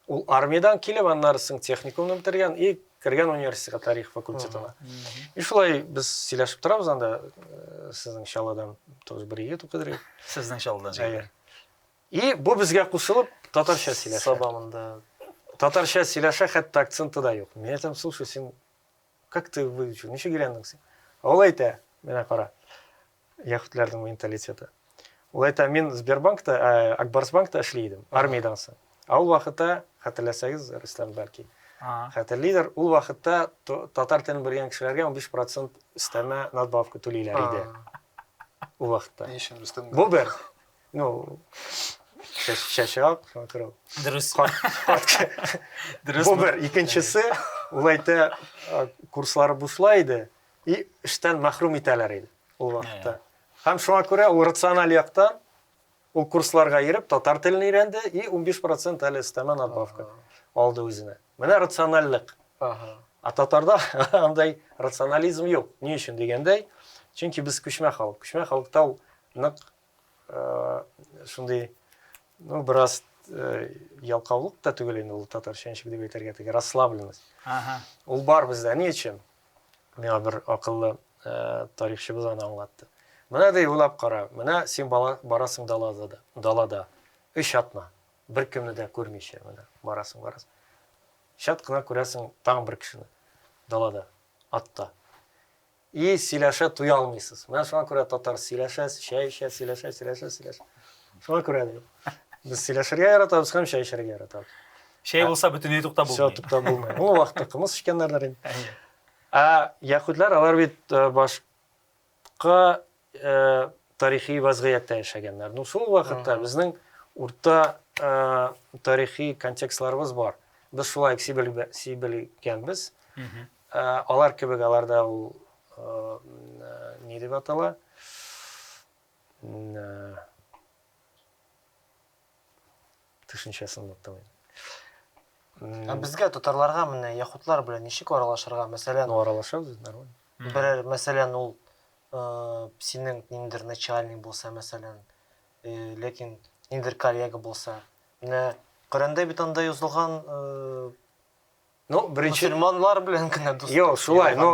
ул армиядән килеп, аннары соң техникумны бетергән и кергән университетка тарих факультетына. И шулай без сөйләшеп торабыз анда сезнең Чаллыдан тоже бер егет укыдыр. Сезнең Чаллыдан җәй. И бу безгә кушылып татарча сөйләшә. Саба монда. Татарча сөйләшә, хәтта акценты да юк. Мин әйтәм, слушай, син как ты выучил, ничек өйрәндең син? Ул әйтә, менә кара, яхүтләрнең менталитеты. Ул әйтә, мин Сбербанкта, ә, Акбарсбанкта эшли идем, армиядән соң. Ә ул вакытта, хәтерләсәгез, Рөстәм бәлки, хәтерлидер, ул вакытта татар телен белгән кешеләргә 15 процент өстәмә надбавка түлиләр иде. Ул вакытта. Бу бер. Ну, чәчрак, вокруг. Дөрес. Дөрес. Бу бер, икенчесе, ул әйтә, курслары бусла иде, и эштән мәхрүм итәләр иде ул вакытта. Һәм шуңа күрә ул рациональ яктан ул курсларга йөреп, татар телен өйрәнде и 15% әле өстәмә надбавка алды үзенә. Менә рациональлек. Ага. А татарда андай рационализм юк. Ни өчен дигәндәй, чөнки без күчмә халык. Күчмә халыкта ул нык Шундый, ну, бераз ялкаулык та түгел инде ул татарча ничек дип әйтергә теге расслабленность. Ага. Ул бар бездә. Ни өчен? Миңа бер акыллы тарихчыбыз аны аңлатты. Менә ди уйлап кара, менә син бала барасың далада да, далада. Өч атна. Бер кемне дә күрмичә менә барасың, барасың. Чат кына күрәсең тагын бер кешене далада, атта. И сөйләшә туя алмыйсыз. Менә шуңа күрә татар сөйләшә, чәй эчә, сөйләшә, сөйләшә, сөйләшә. Шуңа күрә ди. Без сөйләшергә яратабыз һәм чәй эчәргә яратабыз. Чәй булса бөтенләй туктап булмый. Все туктап булмый. Ул вакытта кымыз эчкәннәрдер инде. Ә яһүдләр алар бит башка тарихи вазгыятьтә яшәгәннәр. Ну, шул вакытта безнең урта тарихи контекстларыбыз бар. Без шулай сибелгәнбез. Алар кебек аларда ул ни дип атала? Төшенчәсен оныттым инде. Ә безгә татарларга менә яхутлар белән ничек аралашырга? Мәсәлән, ну аралашабыз нормально. Берәр, мәсәлән, ул э, синең ниндер начальник булса, мәсәлән, э, ләкин ниндер коллега булса, менә Коръәндә бит анда язылган э, Ну, беренче... Мусульманлар белән генә дуслык. Йо, шулай, но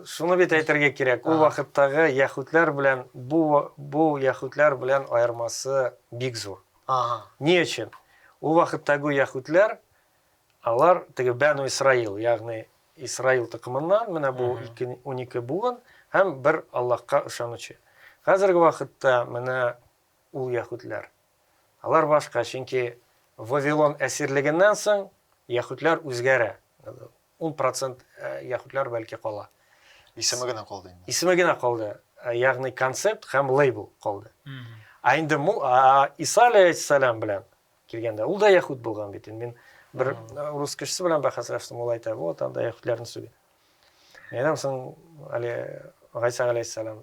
шуны бит әйтергә кирәк. Ул вакыттагы яхүтләр белән бу бу яхүтләр белән аермасы бик зур. Ага. Ни өчен? Ул вакыттагы яхүтләр алар теге Бәну Исраил, ягъни Исраил токымыннан, менә бу 12 буын һәм бер Аллаһка ышанучы. Хәзерге вакытта менә ул яхүтләр. Алар башка, чөнки Вавилон әсирлегеннән соң яһүдләр үзгәрә. Ун процент э, яһүдләр бәлки кала. Исеме генә калды инде. Исеме генә калды, э, ягъни концепт һәм лейбл калды. Ә инде Иса алейхиссалам белән килгәндә, ул да яһүд булган бит. Мин бер э, рус кешесе белән бәхәсләштем, ул әйтә, вот анда яһүдләрне сүгә. Әйтәм соң, әле Гайса алейхиссалам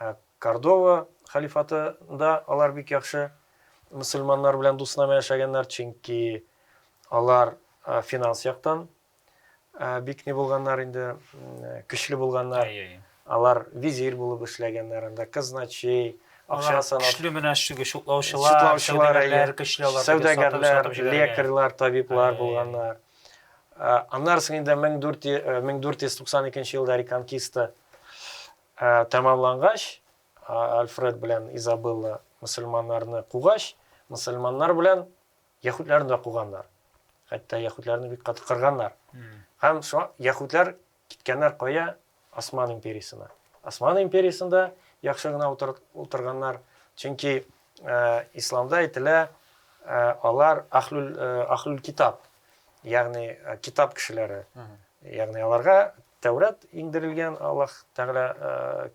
Ә Кордова халифатында алар бик яхшы мөселманнар белән дуснама яшәгәннәр, чөнки алар финанс яктан бик ни булганнар инде, көчле булганнар. Алар визир булып эшләгәннәр, анда казначей, акча санап. Көчле менә шугы шутлаучылар, шутлаучылар, көчле алар. Сәүдәгәрләр, лекарьлар, табиблар булганнар. Аннары инде 1492 елда Реконкиста Ә тәмамлангач, Альфред белән Изабелла мөселманнарны кугач, мөселманнар белән яһүдләрне дә куганнар. Хәтта яһүдләрне бик каты кырганнар. Һәм шуңа яһүдләр киткәннәр кая? Осман империясенә. Осман империясендә яхшы гына утырганнар, чөнки исламда әйтелә, алар ахлүл ахлүл китап, ягъни китап кешеләре ягъни аларга тәүрәт иңдерелгән аллаһ тәғәлә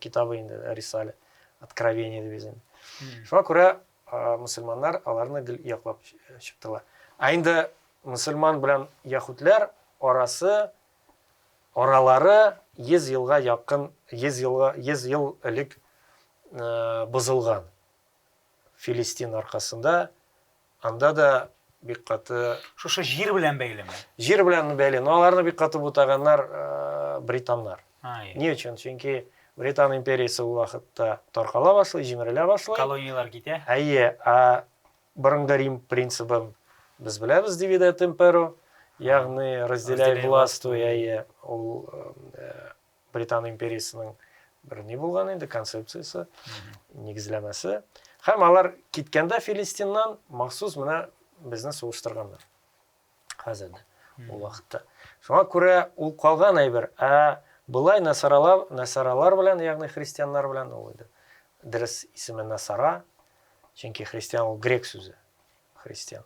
китабы инде рисале откровение дип язган шуңа күрә мөселманнар аларны гел яклап чыктылар ә инде мөселман белән яһүдләр арасы аралары йөз елга якын йөз елга йөз ел элек бозылган филистин аркасында Анда да бик каты Шушы җир белән бәйлеме? Җир белән бәйле. Но аларны бик каты бутаганнар э, британнар. Ни өчен? Чөнки Британ империясе ул вакытта таркала башлый, җимерелә башлый. Колонияләр китә. Әйе, ә борынгы Рим принцибын без беләбез, дивиде темперу, ягъни разделяй властвуй, әйе, ул э, Британ империясының бер ни булган инде концепциясе, нигезләмәсе. Һәм алар киткәндә Филистиннан махсус менә безне сугыштырганнар. Хәзер дә ул вакытта. Шуңа күрә ул калган әйбер, ә былай насаралар, насаралар белән, ягъни христианнар белән ул иде. Дөрес исеме насара, чөнки христиан ул грек сүзе. Христиан.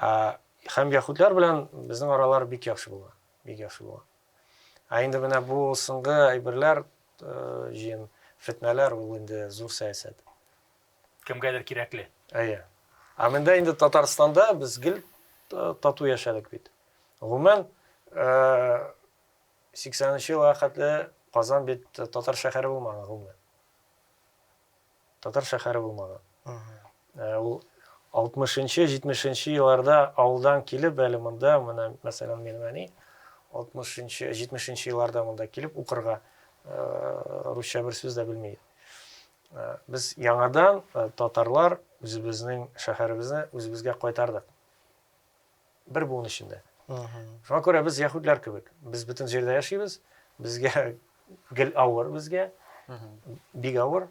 Ә һәм яхудлар белән безнең аралар бик яхшы булган, бик яхшы булган. Ә инде менә бу соңгы әйберләр, җыен фетнәләр ул инде зур сәясәт. Кемгәдер кирәкле. Әйе. Ә мендә инде Татарстанда без гел тату яшәдек бит. Гомумән, 80 нче елга хәтле Казан бит татар шәһәре булмаган гомумән. Татар шәһәре булмады. Ә ул 60 нчы, 70 нчы елларда авылдан килеп, әле монда, менә, мәсәлән, минем әни 60 нчы, 70 нчы елларда монда килеп укырга русча бер сүз дә белми иде. Без яңадан татарлар үзебезнең шәһәребезне үзебезгә кайтардык. бер буын эчендә. Шуңа күрә без яһүдләр кебек. Без бөтен җирдә яшибез. Безгә гел авыр безгә. Бик авыр.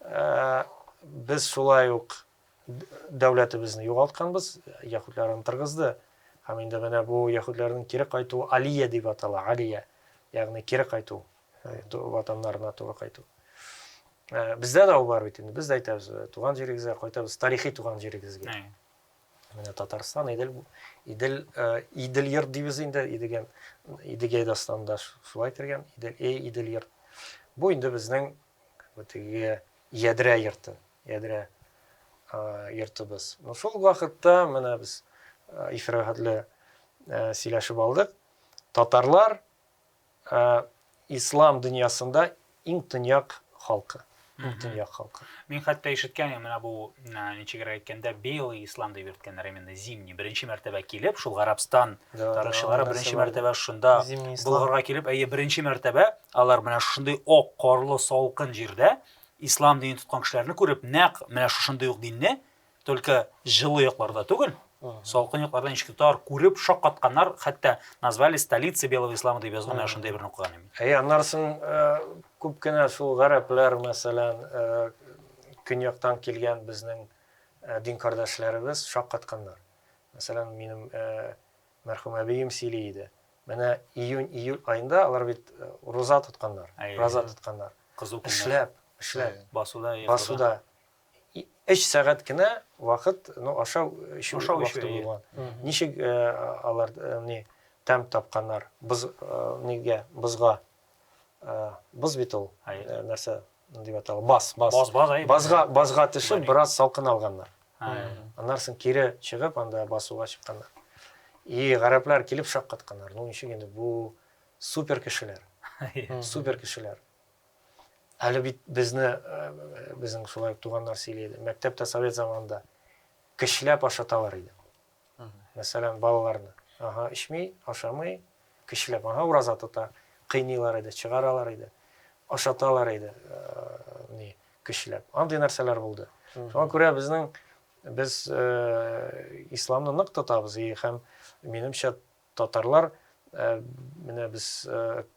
Э, без шулай ук дәүләтебезне югалтканбыз, яһүдләр аны торгызды. Һәм инде менә бу яһүдләрнең кире кайтуы Алия дип атала, Алия. Ягъни кире кайту, э, ватаннарына туры кайту. Э, бездә дә ул бар бит инде. Без дә әйтәбез, туган җирегезгә кайтабыз, тарихи туган җирегезгә. Менә Татарстан, Идел, Идел, э, Идел йорт дибез инде, Идеген, Идегәй дастанда шулай кергән, Идел, эй, Идел йорт. Бу инде безнең теге ядрә йорты, ядрә э, йортыбыз. Ну, шул вакытта менә без э, ифрахатлы э, сөйләшеп алдык. Татарлар Ә ислам дөньясында иң төньяк халкы. Иң төньяк халкы. Мин хәтта ишеткән, менә бу ничегрәк әйткәндә, белый ислам дип йөрткәннәр, именно зимний. Беренче мәртәбә килеп, шул Гарабстан тарихчылары беренче мәртәбә шунда булгарга килеп, әйе, беренче мәртәбә алар менә шундый ак карлы салкын җирдә ислам динен тоткан кешеләрне күреп, нәкъ менә шушындый ук динне Только җылы якларда түгел, салкын якларда ничек тотар, күреп шаккатканнар, хәтта назвали столицы белого ислама дип язган, менә шундый берне укыган идем. Әй, аннан соң күп кенә шул гарәпләр, мәсәлән, көньяктан килгән безнең дин кардәшләребез шаккатканнар. Мәсәлән, минем мәрхүм әбием сөйли иде. Менә июнь-июль айында алар бит руза тотканнар, роза тотканнар. Кызу көннәр. Эшләп, эшләп. Басуда. Басуда. Өч сәгать кенә вакыт, ну, ашау, эчү вакыты булган. Ничек алар ни тәм тапканнар? Боз нигә? Бозга. Боз бит ул. Нәрсә дип атала? Баз, баз. Баз, баз, әй. Базга, базга төшеп, бераз салкын алганнар. Аннан соң кире чыгып, анда басуга чыкканнар. И гарәпләр килеп шаккатканнар. Ну, ничек инде бу супер кешеләр. Супер кешеләр. Әле бит безне, безнең шулай ук туганнар сөйли иде, мәктәптә совет заманында көчләп ашаталар иде. Мәсәлән, балаларны. Ага, эчми, ашамый, көчләп, ага, ураза тота, кыйныйлар иде, чыгаралар иде, ашаталар иде, ни, көчләп. Андый нәрсәләр булды. Шуңа күрә безнең без исламны нык тотабыз и һәм минемчә татарлар менә без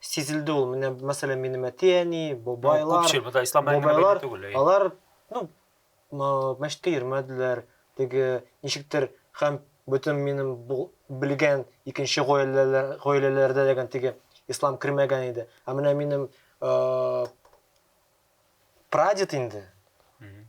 Сизелде ул, менә, мәсәлән, минем әти-әни, бабайлар, күпчел, бу да ислам бабайлар, түгел, алар, ну, мәчеткә йөрмәделәр, теге, ничектер, һәм бөтен минем белгән икенче гаиләләр, гаиләләрдә дигән теге ислам кермәгән иде. Ә менә минем прадед инде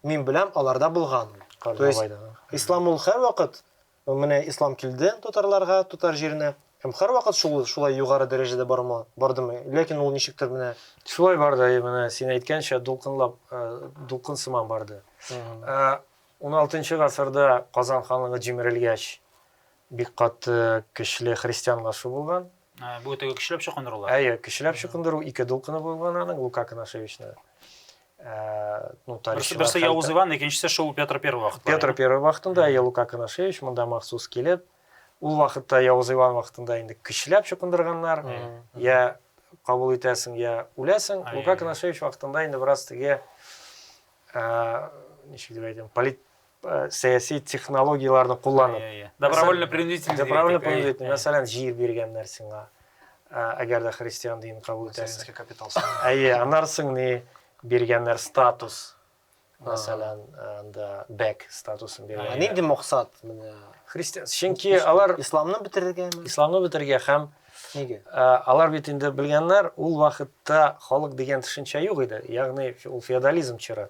мин беләм аларда булган то есть ислам ул һәрвакыт менә ислам килде татарларга татар җиренә һәм һәрвакыт шул шулай югары дәрәҗәдә барма бардымы ләкин ул ничектер менә шулай барды менә син әйткәнчә дулкынлап дулкын сыман барды 16 алтынчы гасырда казан ханлыгы җимерелгәч Бик каты, көчле христианлашу булган. Бу теге көчләп чукындырулар. Әйе, көчләп чукындыру ике дулкыны булган аның Лука Конашевичны. Ә, ну, тарихчы. Берсе Явыз Иван, икенчесе шул Петр Первый вакытта. Петр Первый вакытында әйе Лука Конашевич монда махсус килеп, ул вакытта Явыз Иван вакытында инде көчләп чукындырганнар. Я кабул итәсең, я үләсең. Лука Конашевич вакытында инде бераз теге ә, ничек дип әйтәм, полит Э, сәяси технологияләрне кулланып иә, иә. добровольно принудительно добровольно принудительно мәсәлән җир биргәннәр сиңа э, әгәр дә христиан динен кабул итәсең капитал әйе аннары соң ни биргәннәр статус мәсәлән анда э, бәк статусын биргән нинди максат менә христиан чөнки алар исламны бетергәме исламны бетергә һәм Нигә? Ә, алар бит инде белгәннәр, ул вакытта халык дигән төшенчә юк иде. Ягъни ул феодализм чоры.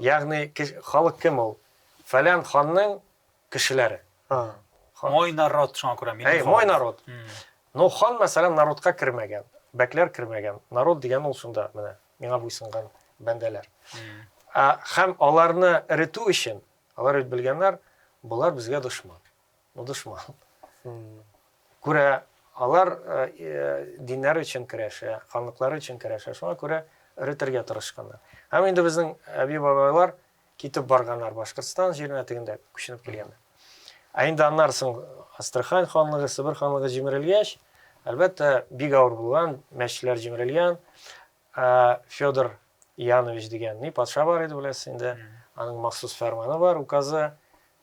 Ягъни халык кем ул? Фәлән ханның кешеләре. Мой народ шуңа күрә мин. Әй, мой народ. Ну, хан, мәсәлән, народка кермәгән, бәкләр кермәгән. Народ дигән ул шунда менә миңа буйсынган бәндәләр. Ә һәм аларны эретү өчен, алар бит белгәннәр, болар безгә дошман. Ну, дошман. Күрә, алар диннәр өчен керәшә, ханлыклары өчен керәшә, шуңа күрә өретергә тырышканнар. Һәм инде безнең әби-бабайлар китеп барганнар Башкортстан җиренә тегендә күченеп килгәннәр. Ә инде аннары соң Астрахань ханлыгы, Себер ханлыгы җимерелгәч, әлбәттә, бик авыр булган, мәчетләр җимерелгән. Федор Янович дигән ни патша бар иде, беләсез инде. Аның махсус фәрманы бар, указы.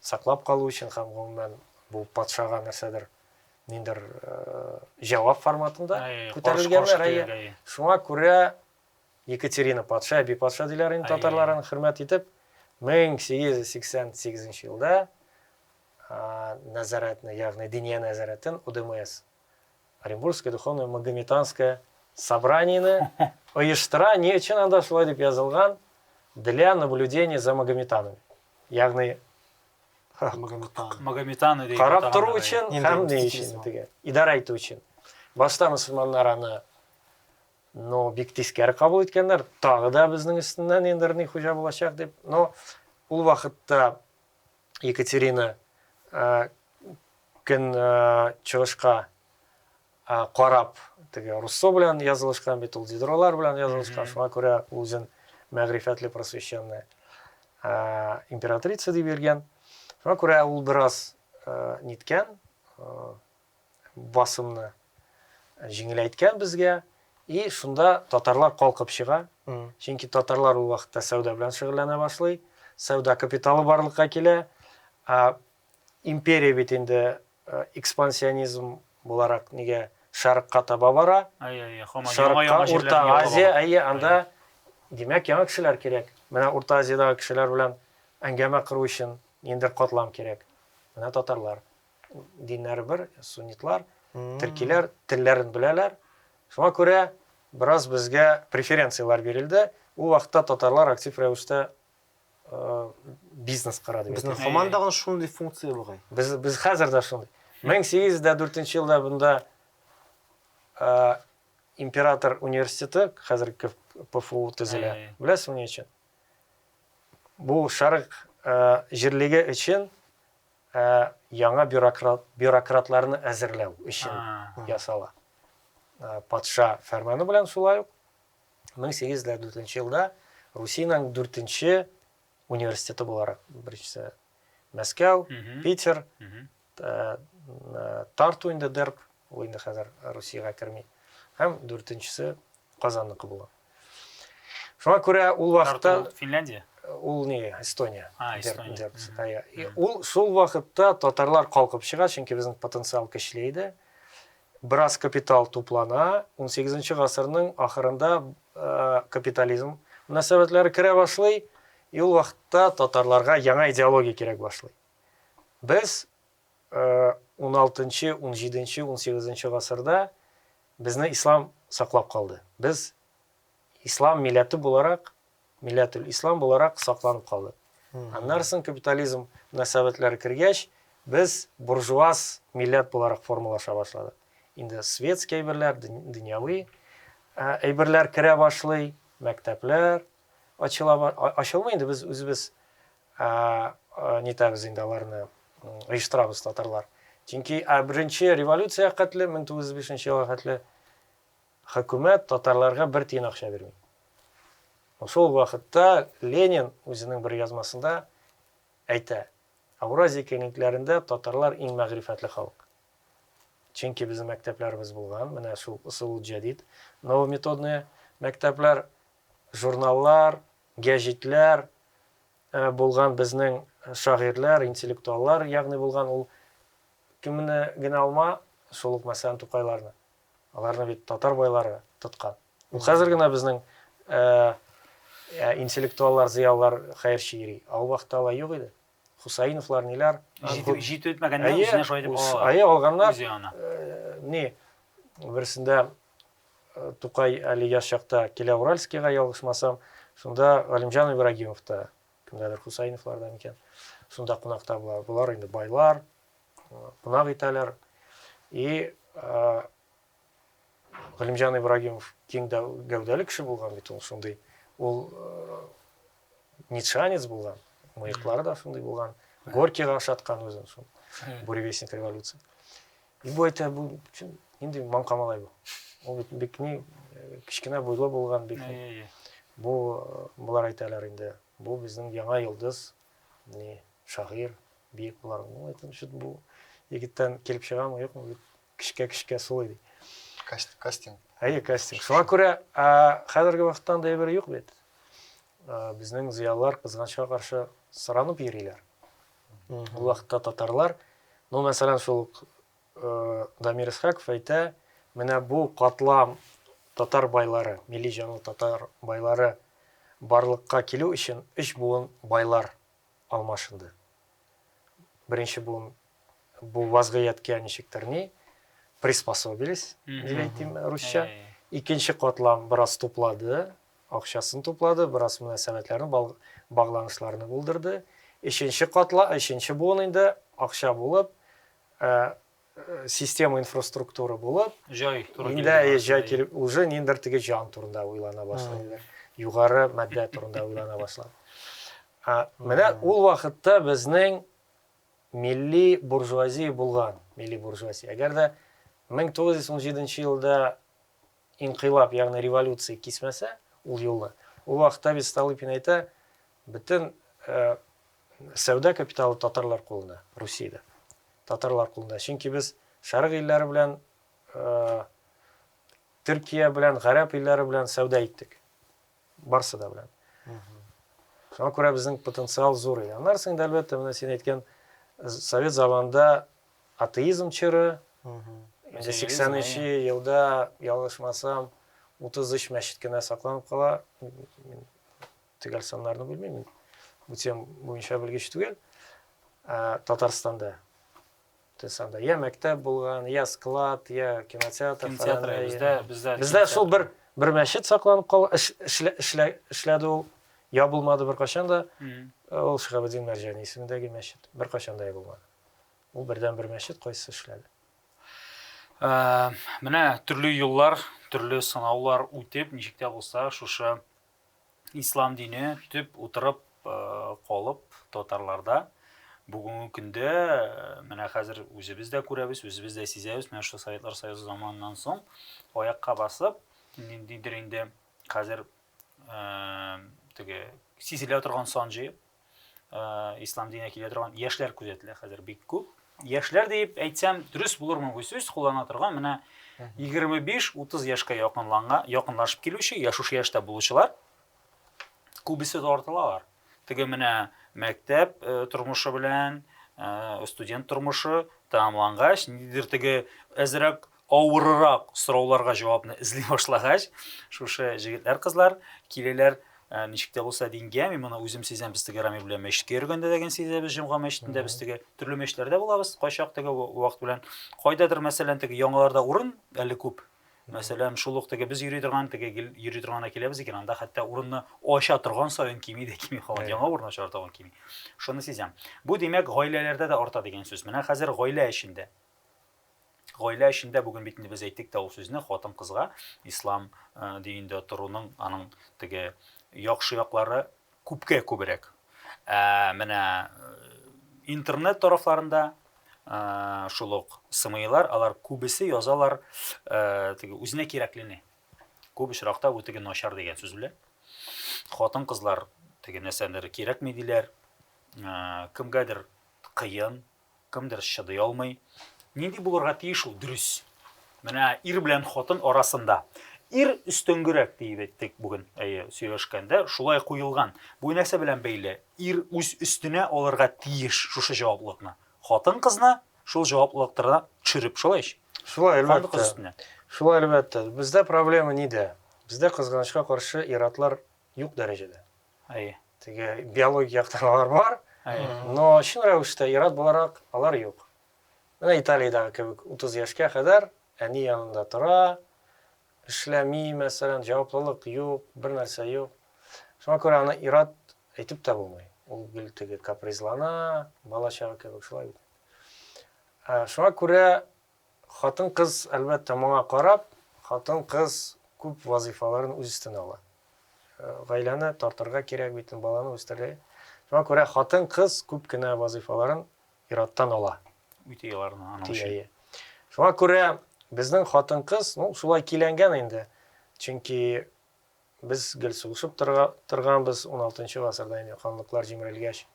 саклап калу өчен һәм гомумән бу патшага нәрсәдер ниндер җавап форматында күтәрелгәннәр әйе шуңа күрә екатерина патша әби патша диләр инде татарлар аны хөрмәт итеп 1888 елда нәзарәтне ягъни диния нәзарәтен удмс Оренбургское духовное магометанское собраниене оештыра, ни өчен анда шулай дип язылган, для наблюдения за магометанами. Ягъни магометаны дип карап тору өчен һәм ни өчен дигән, идарә итү өчен. Башта мусульманнар аны но бик тискәре кабул иткәннәр, тагы да безнең өстеннән инде ни хуҗа булачак дип. Но ул вакытта Екатерина көн чыгышка карап теге руссо белән язылышкан бит ул дидройлар белән язылышкан шуңа күрә үзен мәгърифәтле просвещенный императрица дип йөргән шуңа күрә ул бераз ниткән басымны җиңеләйткән безгә, и шунда татарлар калкып чыга, чөнки татарлар ул вакытта сәүдә белән шөгыльләнә башлый, сәүдә капиталы барлыкка килә, ә империя бит инде экспансионизм буларак нигә шәрыкка таба бара, шәрыкка, Урта Азия, әйе, анда, димәк, яңа кешеләр кирәк, менә Урта Азиядагы кешеләр белән әңгәмә кору өчен ниндидер катлам кирәк, менә татарлар. диннәре бер, суннитлар, төркиләр телләрен беләләр. Шуңа күрә бераз безгә преференцияләр бирелде. Ул вакытта татарлар актив рәвештә э, бизнес кыра дип Безнең һаман тагын шундый функция бугай. Без без хәзер дә шундый. 1804 елда бында э, император университеты, хәзер КФУ төзелә. Беләсеңме ни өчен? Бу шарык э, җирлеге өчен ә яңа бюрократларны әзерләү өчен ясала. Патша фәрманы белән шулай ук 1804 елда Русиянең дүртенче университеты буларак, беренчесе Мәскәү, Питер, Тарту инде дерб, ул инде хәзер Русиягә керми, һәм дүртенчесе Казанныкы була. Шуңа күрә ул вакытта Финляндия ул не Эстония. А, Эстония. Ә, ул шул вакытта татарлар калкып чыга, чөнки безнең потенциал көчле иде. Бераз капитал туплана. 18 гасырның ахырында э, капитализм мөнәсәбәтләре керә башлый. И ул вакытта татарларга яңа идеология кирәк башлый. Без уналтынчы, унҗиденче, унсигезенче гасырда безне ислам саклап калды. Без ислам милләте буларак, милләтел-ислам буларак сакланып калдык. Аннарсын капитализм мөнәсәбәтләре кергәч, без буржуаз милләт буларак формалаша башладык. Инде светский әйберләр, дөньяви әйберләр керә башлый, мәктәпләр, ачылмый инде без үзебез нитәбез инде аларны оештырабыз татарлар чөнки беренче революция хәтле 1905 елга хәтле хөкүмәт татарларга бер тиен акча бирми шул вакытта ленин үзенең бер язмасында әйтә ауразия киңлекләрендә татарлар иң мәгърифәтле халык чөнки безнең мәктәпләребез булган менә шул ысул җәдид новометодные мәктәпләр журналлар, гәҗитләр булган безнең шагыйрьләр, интеллектуаллар ягъни булган ул кемне генә алма, шул ук мәсәлән Тукайларны. Аларны бит татар байлары тоткан. Ул хәзер генә безнең интеллектуаллар, зыялылар хәерче йөри. Ә ул вакытта алай юк иде. Хусаиновлар, ниләр. Җитеп җитмәгәннәр үзенә шулай дип алалар. Әйе, алганнар. Үзе аны. Ни, берсендә Тукай әле яшь чакта килә Уральскийга, ялгышмасам. Шунда Галимҗан Ибрагимов та, кемдәдер Хусаиновларда микән, шунда кунакта була. Болар инде байлар, кунак итәләр. И Галимҗан Ибрагимов киң гәүдәле кеше булган бит ул шундый. Ул нитшанец булган, мыеклары да шундый булган. Горькийга ошаткан үзен шул. Буревестник революции. И бу әйтә, бу чын, нинди маңка малай бу. Ул бит бик ни кечкенә буйлы булган бик. Бу булар әйтәләр инде. Бу безнең яңа йолдыз, ни шагыйр, биек булар. Ну, әйтәм, чут бу егеттән килеп чыгамы, юкмы бит кечкә-кечкә сулый ди. Кастинг. Әйе, кастинг. Шуңа күрә хәзерге вакытта андый әйбер юк бит. Безнең зыялылар кызганычка каршы сыранып йөриләр. Ул вакытта татарлар, ну, мәсәлән, шул Дамир Исхаков әйтә, менә бу катлам татар байлары, милли җанлы татар байлары барлыкка килү өчен өч буын байлар алмашынды. Беренче буын бу вазгыятькә ничектер ни приспособились, дип әйтим русча. Икенче катлам бераз туплады, Акчасын туплады, бераз мөнәсәбәтләрне, бал, багланышларны булдырды. Өченче катла, өченче буын инде, акча булып, ә, система инфраструктура булып, Җай туры инде, килде. әйе, җай килеп, уже ниндидер теге җан турында уйлана башлый иде. Югары матдә турында уйлана башлады. А, менә ул вакытта безнең милли буржуазия булган, милли буржуазия. Әгәр дә 1917 елда Инкыйлаб, ягъни революция кисмәсә ул юлны, ул вакытта бит Столыпин әйтә, бөтен сәүдә капиталы татарлар кулында, Русиядә. Татарлар кулында. Чөнки без Шәрык илләре белән Төркия белән, Гарәп илләре белән сәүдә иттек. Барсы да белән. Шуңа күрә безнең потенциал зур иде. Аннарсың да әлбәттә, менә син әйткән совет заманында атеизм чоры, инде 83 елда, ялгышмасам, 33 мәчет кенә сакланып кала, төгәл саннарны белмим, бу тем буенча белгеч түгел, Татарстанда. Тесанда. Я мәктәп булган, я склад, я кинотеатр. Кинотеатр, бездә, бездә. Бездә шул бер, бер мәчет сакланып кал, эшләде ул, я булмады бер кашанда, ул Шихабедин Мәрҗани исемендәге мәчет, бер кашанда я булмады. Ул бердән бер мәчет кайсы эшләде? Ә, менә төрле юллар, төрле сынаулар үтеп, ничек тә булса, шушы ислам дине төп утырып калып татарларда бүгенге көндә менә хәзер үзебез дә күрәбез, үзебез дә сизәбез, менә шул Советлар Союзы заманыннан соң аякка басып, ниндидер инде хәзер теге сизелә торган сан җыеп ислам диненә килә торган яшьләр күзәтелә хәзер бик күп. Яшьләр дип әйтсәм, дөрес булырмы бу сүз куллана торган менә 25-30 яшькә якынланга, якынлашып килүче, яшушы яшьтә булучылар күбесе тартылалар. Теге менә мәктәп э, тормышы белән э, студент тормышы тәмамлангач, нидер теге әзрәк Авырырак сорауларга җавапны эзли башлагач, шушы җегетләр-кызлар киләләр, ничек тә булса дингә, мин моны үзем сизәм, без теге Рамил белән мәчеткә йөргәндә дә генә сизәбез, җомга мәчетендә без теге төрле мәчетләрдә булабыз, кайчак теге вакыт белән. Кайдадыр, мәсәлән, теге яңаларда урын әле күп, Мәсәлән, шул ук теге без йөри торган, теге йөри торгана киләбез икән, анда хәтта урынны ача торган саен кими дә кими кала, яңа урын ача торган кими. Шуны сизәм. Бу димәк, гаиләләрдә дә арта дигән сүз. Менә хәзер гаилә эчендә. Гаилә эчендә бүген бит инде без әйттек тә ул сүзне, хатын-кызга ислам динендә торуның аның теге яхшы яклары күпкә күбрәк. Ә менә интернет тарафларында шул ук сымыйлар, алар күбесе язалар теге үзенә кирәклене. Күп очракта бу теге начар дигән сүз белән. Хатын-кызлар теге нәрсәләре кирәкми диләр. Кемгәдер кыен, Кемдер чыдый алмый. Нинди булырга тиеш ул дөрес? Менә ир белән хатын арасында. Ир өстенгерәк диеп әйттек бүген, әйе, сөйләшкәндә шулай куелган. Бу нәрсә белән бәйле? Ир үз өстенә алырга тиеш шушы җаваплылыкны. Хатын кызны шул җаваплылыктарына төшереп шулай ич. Шулай, әлбәттә. Шулай, әлбәттә. Бездә проблема нидә? Бездә, кызганычка каршы, ир-атлар юк дәрәҗәдә. Әйе. Теге биологик яктырмалар бар, но чын рәвештә ир-ат буларак алар юк. Менә Италиядәге кебек 30 яшькә кадәр әни янында тора, эшләми, мәсәлән, җаваплылык юк, бер нәрсә юк. Шуңа күрә аны ир-ат әйтеп тә булмый. Ул гел теге капризлана, бала-чага кебек шулай бит. Шуңа күрә Хатын-кыз, әлбәттә, моңа карап, хатын-кыз күп вазыйфаларын үз өстенә ала. Гаиләне тартырга кирәк бит, баланы үстерә. Шуңа күрә хатын-кыз күп кенә вазыйфаларын ир-аттан ала. Үти аларны аның өчен. Шуңа күрә безнең хатын-кыз, ну, шулай киләнгән инде. Чөнки без гел сугышып торганбыз, 16 нчы гасырда инде ханлыклар җимерелгәч,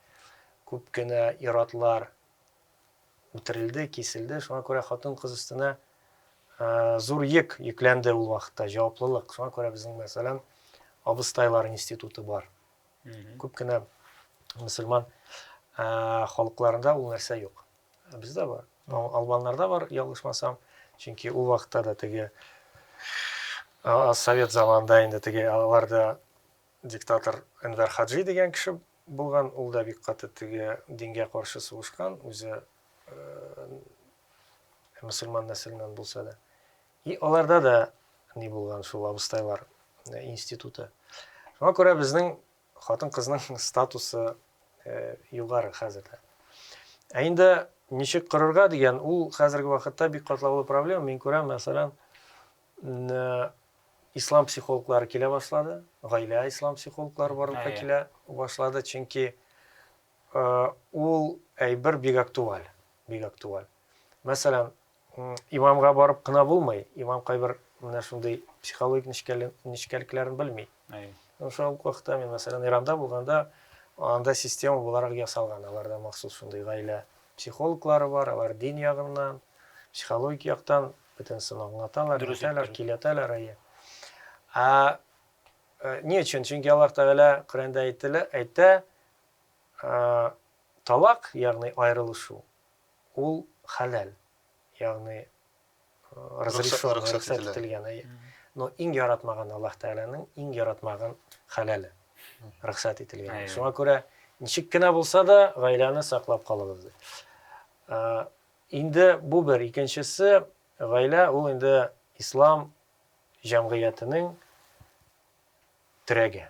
күп кенә ир-атлар, үтерелде, киселде. Шуңа күрә хатын-кыз өстенә зур йөк йөкләнде ул вакытта, җаваплылык. Шуңа күрә безнең, мәсәлән, абыстайлар институты бар. Күп кенә мөселман халыкларында ул нәрсә юк. Ә бездә бар. Албаннарда бар, ялгышмасам. Чөнки ул вакытта да теге совет заманында инде теге аларда Диктатор Энвәр Хаджи дигән кеше булган, ул да бик каты теге дингә каршы сугышкан, үзе мөселман нәселеннән булса да. И аларда да ни булган шул абыстайлар институты. Шуңа күрә безнең хатын-кызның статусы югары хәзер дә. Ә инде ничек корырга дигән, ул хәзерге вакытта бик катлаулы проблема. Мин күрәм, мәсәлән, Н ислам психологлары килә башлады, гаилә ислам психологлары барлыкка килә башлады, чөнки ул әйбер бик актуаль, бик актуаль. Мәсәлән, имамга барып кына булмый, имам кайбер менә шундый психологик нечкәлекләрен белми. Шул вакытта мин, мәсәлән, Иранда булганда, анда система буларак ясалган, аларда махсус шундый гаилә психологлары бар, алар дин ягыннан, психологик яктан бөтенесен аңлаталар, Дөрес әйтәләр, әйттең. киләтәләр, әйе. Ә э, ни өчен? Чөнки Аллаһ Тәгалә Коръәндә әйтелә, әйтә, э, талак, ягъни аерылышу, ул хәләл, ягъни э, разрешен, рөхсәт рөхсәт ителә. ителгән, әйе. Но иң яратмаган Аллаһ Тәгаләнең иң яратмаган хәләле, рөхсәт ителгән. Әйе. Шуңа күрә ничек кенә булса да гаиләне саклап калыгыз ди. Э, Инде бу бер, икенчесе, гаилә ул инде ислам җәмгыятенең терәге.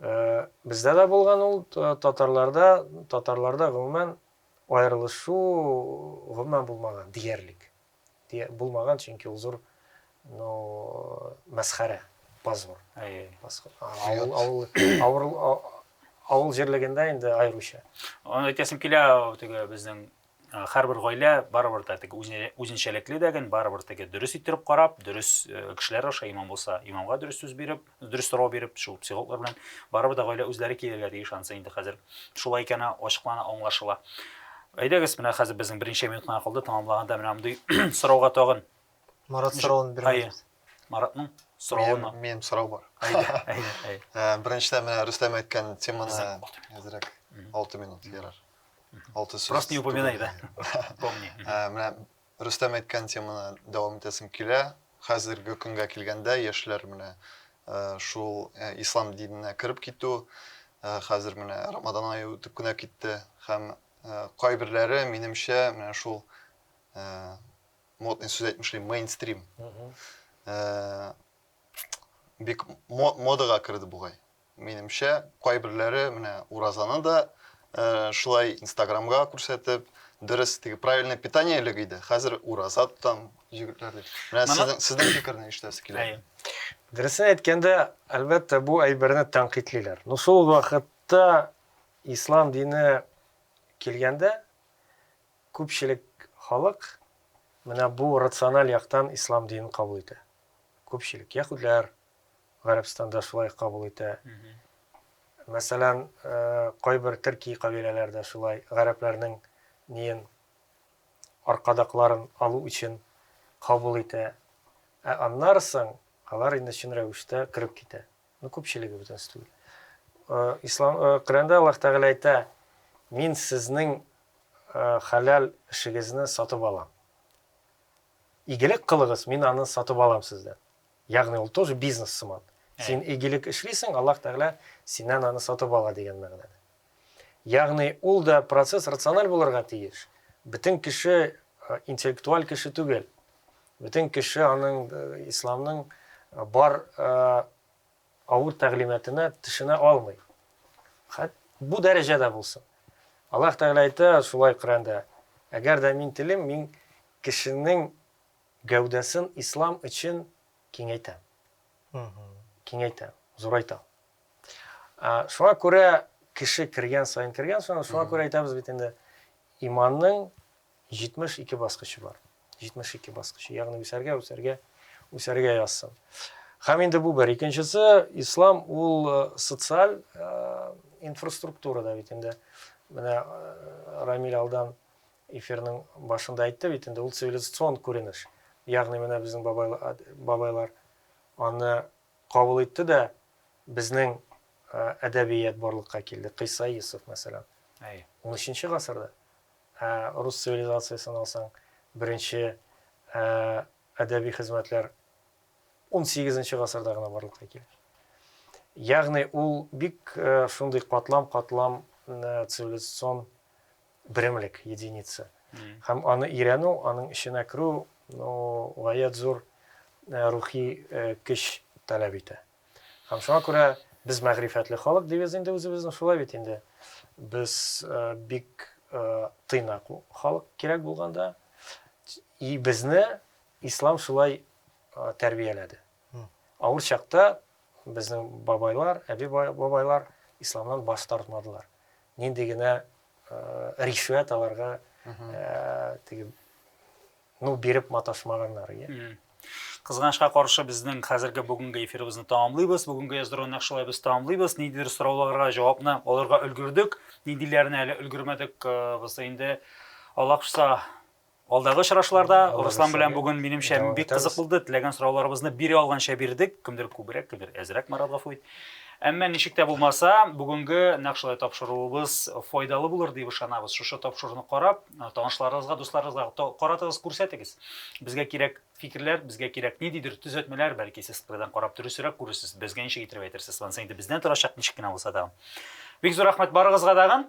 Бездә дә булган ул, татарларда, татарларда гомумән аерылышу гомумән булмаган диярлек. Дия, булмаган, чөнки ул зур, ну, мәсхәрә, позор. Әйе. Авыл, авыл, авыл, авыл җирлегендә инде айруча. Аны әйтәсем килә, теге безнең һәрбер гаилә барыбер да теге үзенчәлекле дәген, барыбер теге дөрес иттереп карап, дөрес кешеләр аша имам булса, имамга дөрес сүз биреп, дөрес сорау биреп, шул психологлар белән барыбер дә гаилә үзләре килергә тиеш анысы инде хәзер. Шулай икәне ачыклана, аңлашыла. Әйдәгез, менә хәзер безнең беренче минут кына калды, тәмамлаганда менә мондый сорауга тагын. Марат соравын бирмәдегез. Маратның соравын. Минем сорау бар. Әйдә, әйдә, әйдә. Э, беренчедән менә Рөстәм әйткән теманы әзрәк 6 минут ярар. 6 сүз. Просто не упоминай, да. Помни. Э, менә Рөстәм әйткән теманы дәвам итәсем килә. Хәзерге көнгә килгәндә, яшьләр менә шул ислам диненә кереп китү, хәзер менә Рамадан ае үтеп кенә китте һәм кайберләре, минемчә, менә шул модный сүз әйтмешли, мейнстрим. Бик модага керде бугай. Минемчә, кайберләре менә уразаны да шулай инстаграмга күрсәтеп, дөрес, теге правильное питание элек иде, хәзер ураза тотам җегетләр дип. Менә сезнең сезнең фикерне ишетәсе килә. Дөресен әйткәндә, әлбәттә, бу әйберне тәнкыйтьлиләр. Но шул ук вакытта ислам дине килгәндә, күпчелек халык менә бу рациональ яктан ислам динен кабул итә. Күпчелек, яһүдләр, Гарәбстанда шулай кабул итә. Мәсәлән, кайбер төрки кабиләләр дә шулай гарәпләрнең ниен аркадакларын алу өчен кабул итә. Ә аннары соң алар инде чын рәвештә кереп китә. Ну, күпчелеге бөтенесе түгел. Ислам Коръәндә Аллаһ Тәгалә әйтә, Мин сезнең хәләл эшегезне сатып алам. Игелек кылыгыз, мин аны сатып алам сездән. Ягъни ул тоже бизнес сыман. Син игелек эшлисең, Аллаһ Тәгалә синнән аны сатып ала дигән мәгънәдә. Ягъни ул да процесс рациональ булырга тиеш. Бөтен кеше интеллектуаль кеше түгел. Бөтен кеше аның исламның бар авыр тәгълиматына төшенә алмый. Хәт бу дәрәҗәдә булсын. Аллаһ Тәгалә әйтә шулай Коръәндә, әгәр дә мин телим, мин кешенең Гәүдәсен ислам өчен киңәйтә. Киңәйтә, зурайта. Шуңа күрә кеше кергән саен, кергән саен, шуңа күрә әйтәбез бит инде, иманның 72 баскычы бар. 72 баскычы, ягъни үсәргә, үсәргә, үсәргә язсын. Һәм инде бу бер. Икенчесе, ислам ул э, социаль э, инфраструктура да бит инде. Менә э, Рамиль алдан Эфирның башында әйтте бит инде, ул цивилизацион күренеш. Ягъни менә безнең бабайлар аны кабул итте дә безнең әдәбият барлыкка килде. Кыйса Йосыф, мәсәлән. Әйе. 13 гасырда. Ә рус цивилизациясен алсаң, беренче әдәби хезмәтләр 18 гасырда гына барлыкка килә. Ягъни ул бик шундый катлам-катлам цивилизацион берәмлек, единица. Һәм аны өйрәнү, аның эченә керү, ну, гаять зур э, рухи э, көч таләп итә. Һәм шуңа күрә без мәгърифәтле халык дибез инде үзебезне, шулай бит инде. Без э, бик тыйнак халык кирәк булганда. И безне ислам шулай тәрбияләде. Авыр чакта безнең бабайлар, әби бабайлар исламнан баш тартмадылар. Нинди генә ришвәт аларга теге ну биреп маташмаганнар, иә. Кызганычка каршы безнең хәзерге бүгенге эфирыбызны тәмамлыйбыз. Бүгенге яздыруны нәкъ шулай без тәмамлыйбыз. Ниндидер сорауларга җавапны алырга өлгердек. Ниндиләренә әле өлгермәдек, без инде Аллаһ кушса Алдагы очрашуларда Руслан белән бүген минемчә бик кызык булды. Теләгән сорауларыбызны бире алганча бирдек. Кемдер күбрәк, кемдер әзрәк, Марат гафу ит. Әмма ничек тә булмаса, бүгенге нәкъ шулай тапшыруыбыз файдалы булыр дип ышанабыз. Шушы тапшыруны карап, танышларыгызга, дусларыгызга каратыгыз, күрсәтегез. Безгә кирәк фикерләр, безгә кирәк ниндидер төзәтмәләр, бәлки сез кырыйдан карап дөресрәк күрерсез, безгә ничек итеп әйтерсез, монысы инде бездән торачак, ничек кенә булса да. Бик зур рәхмәт барыгызга дагын.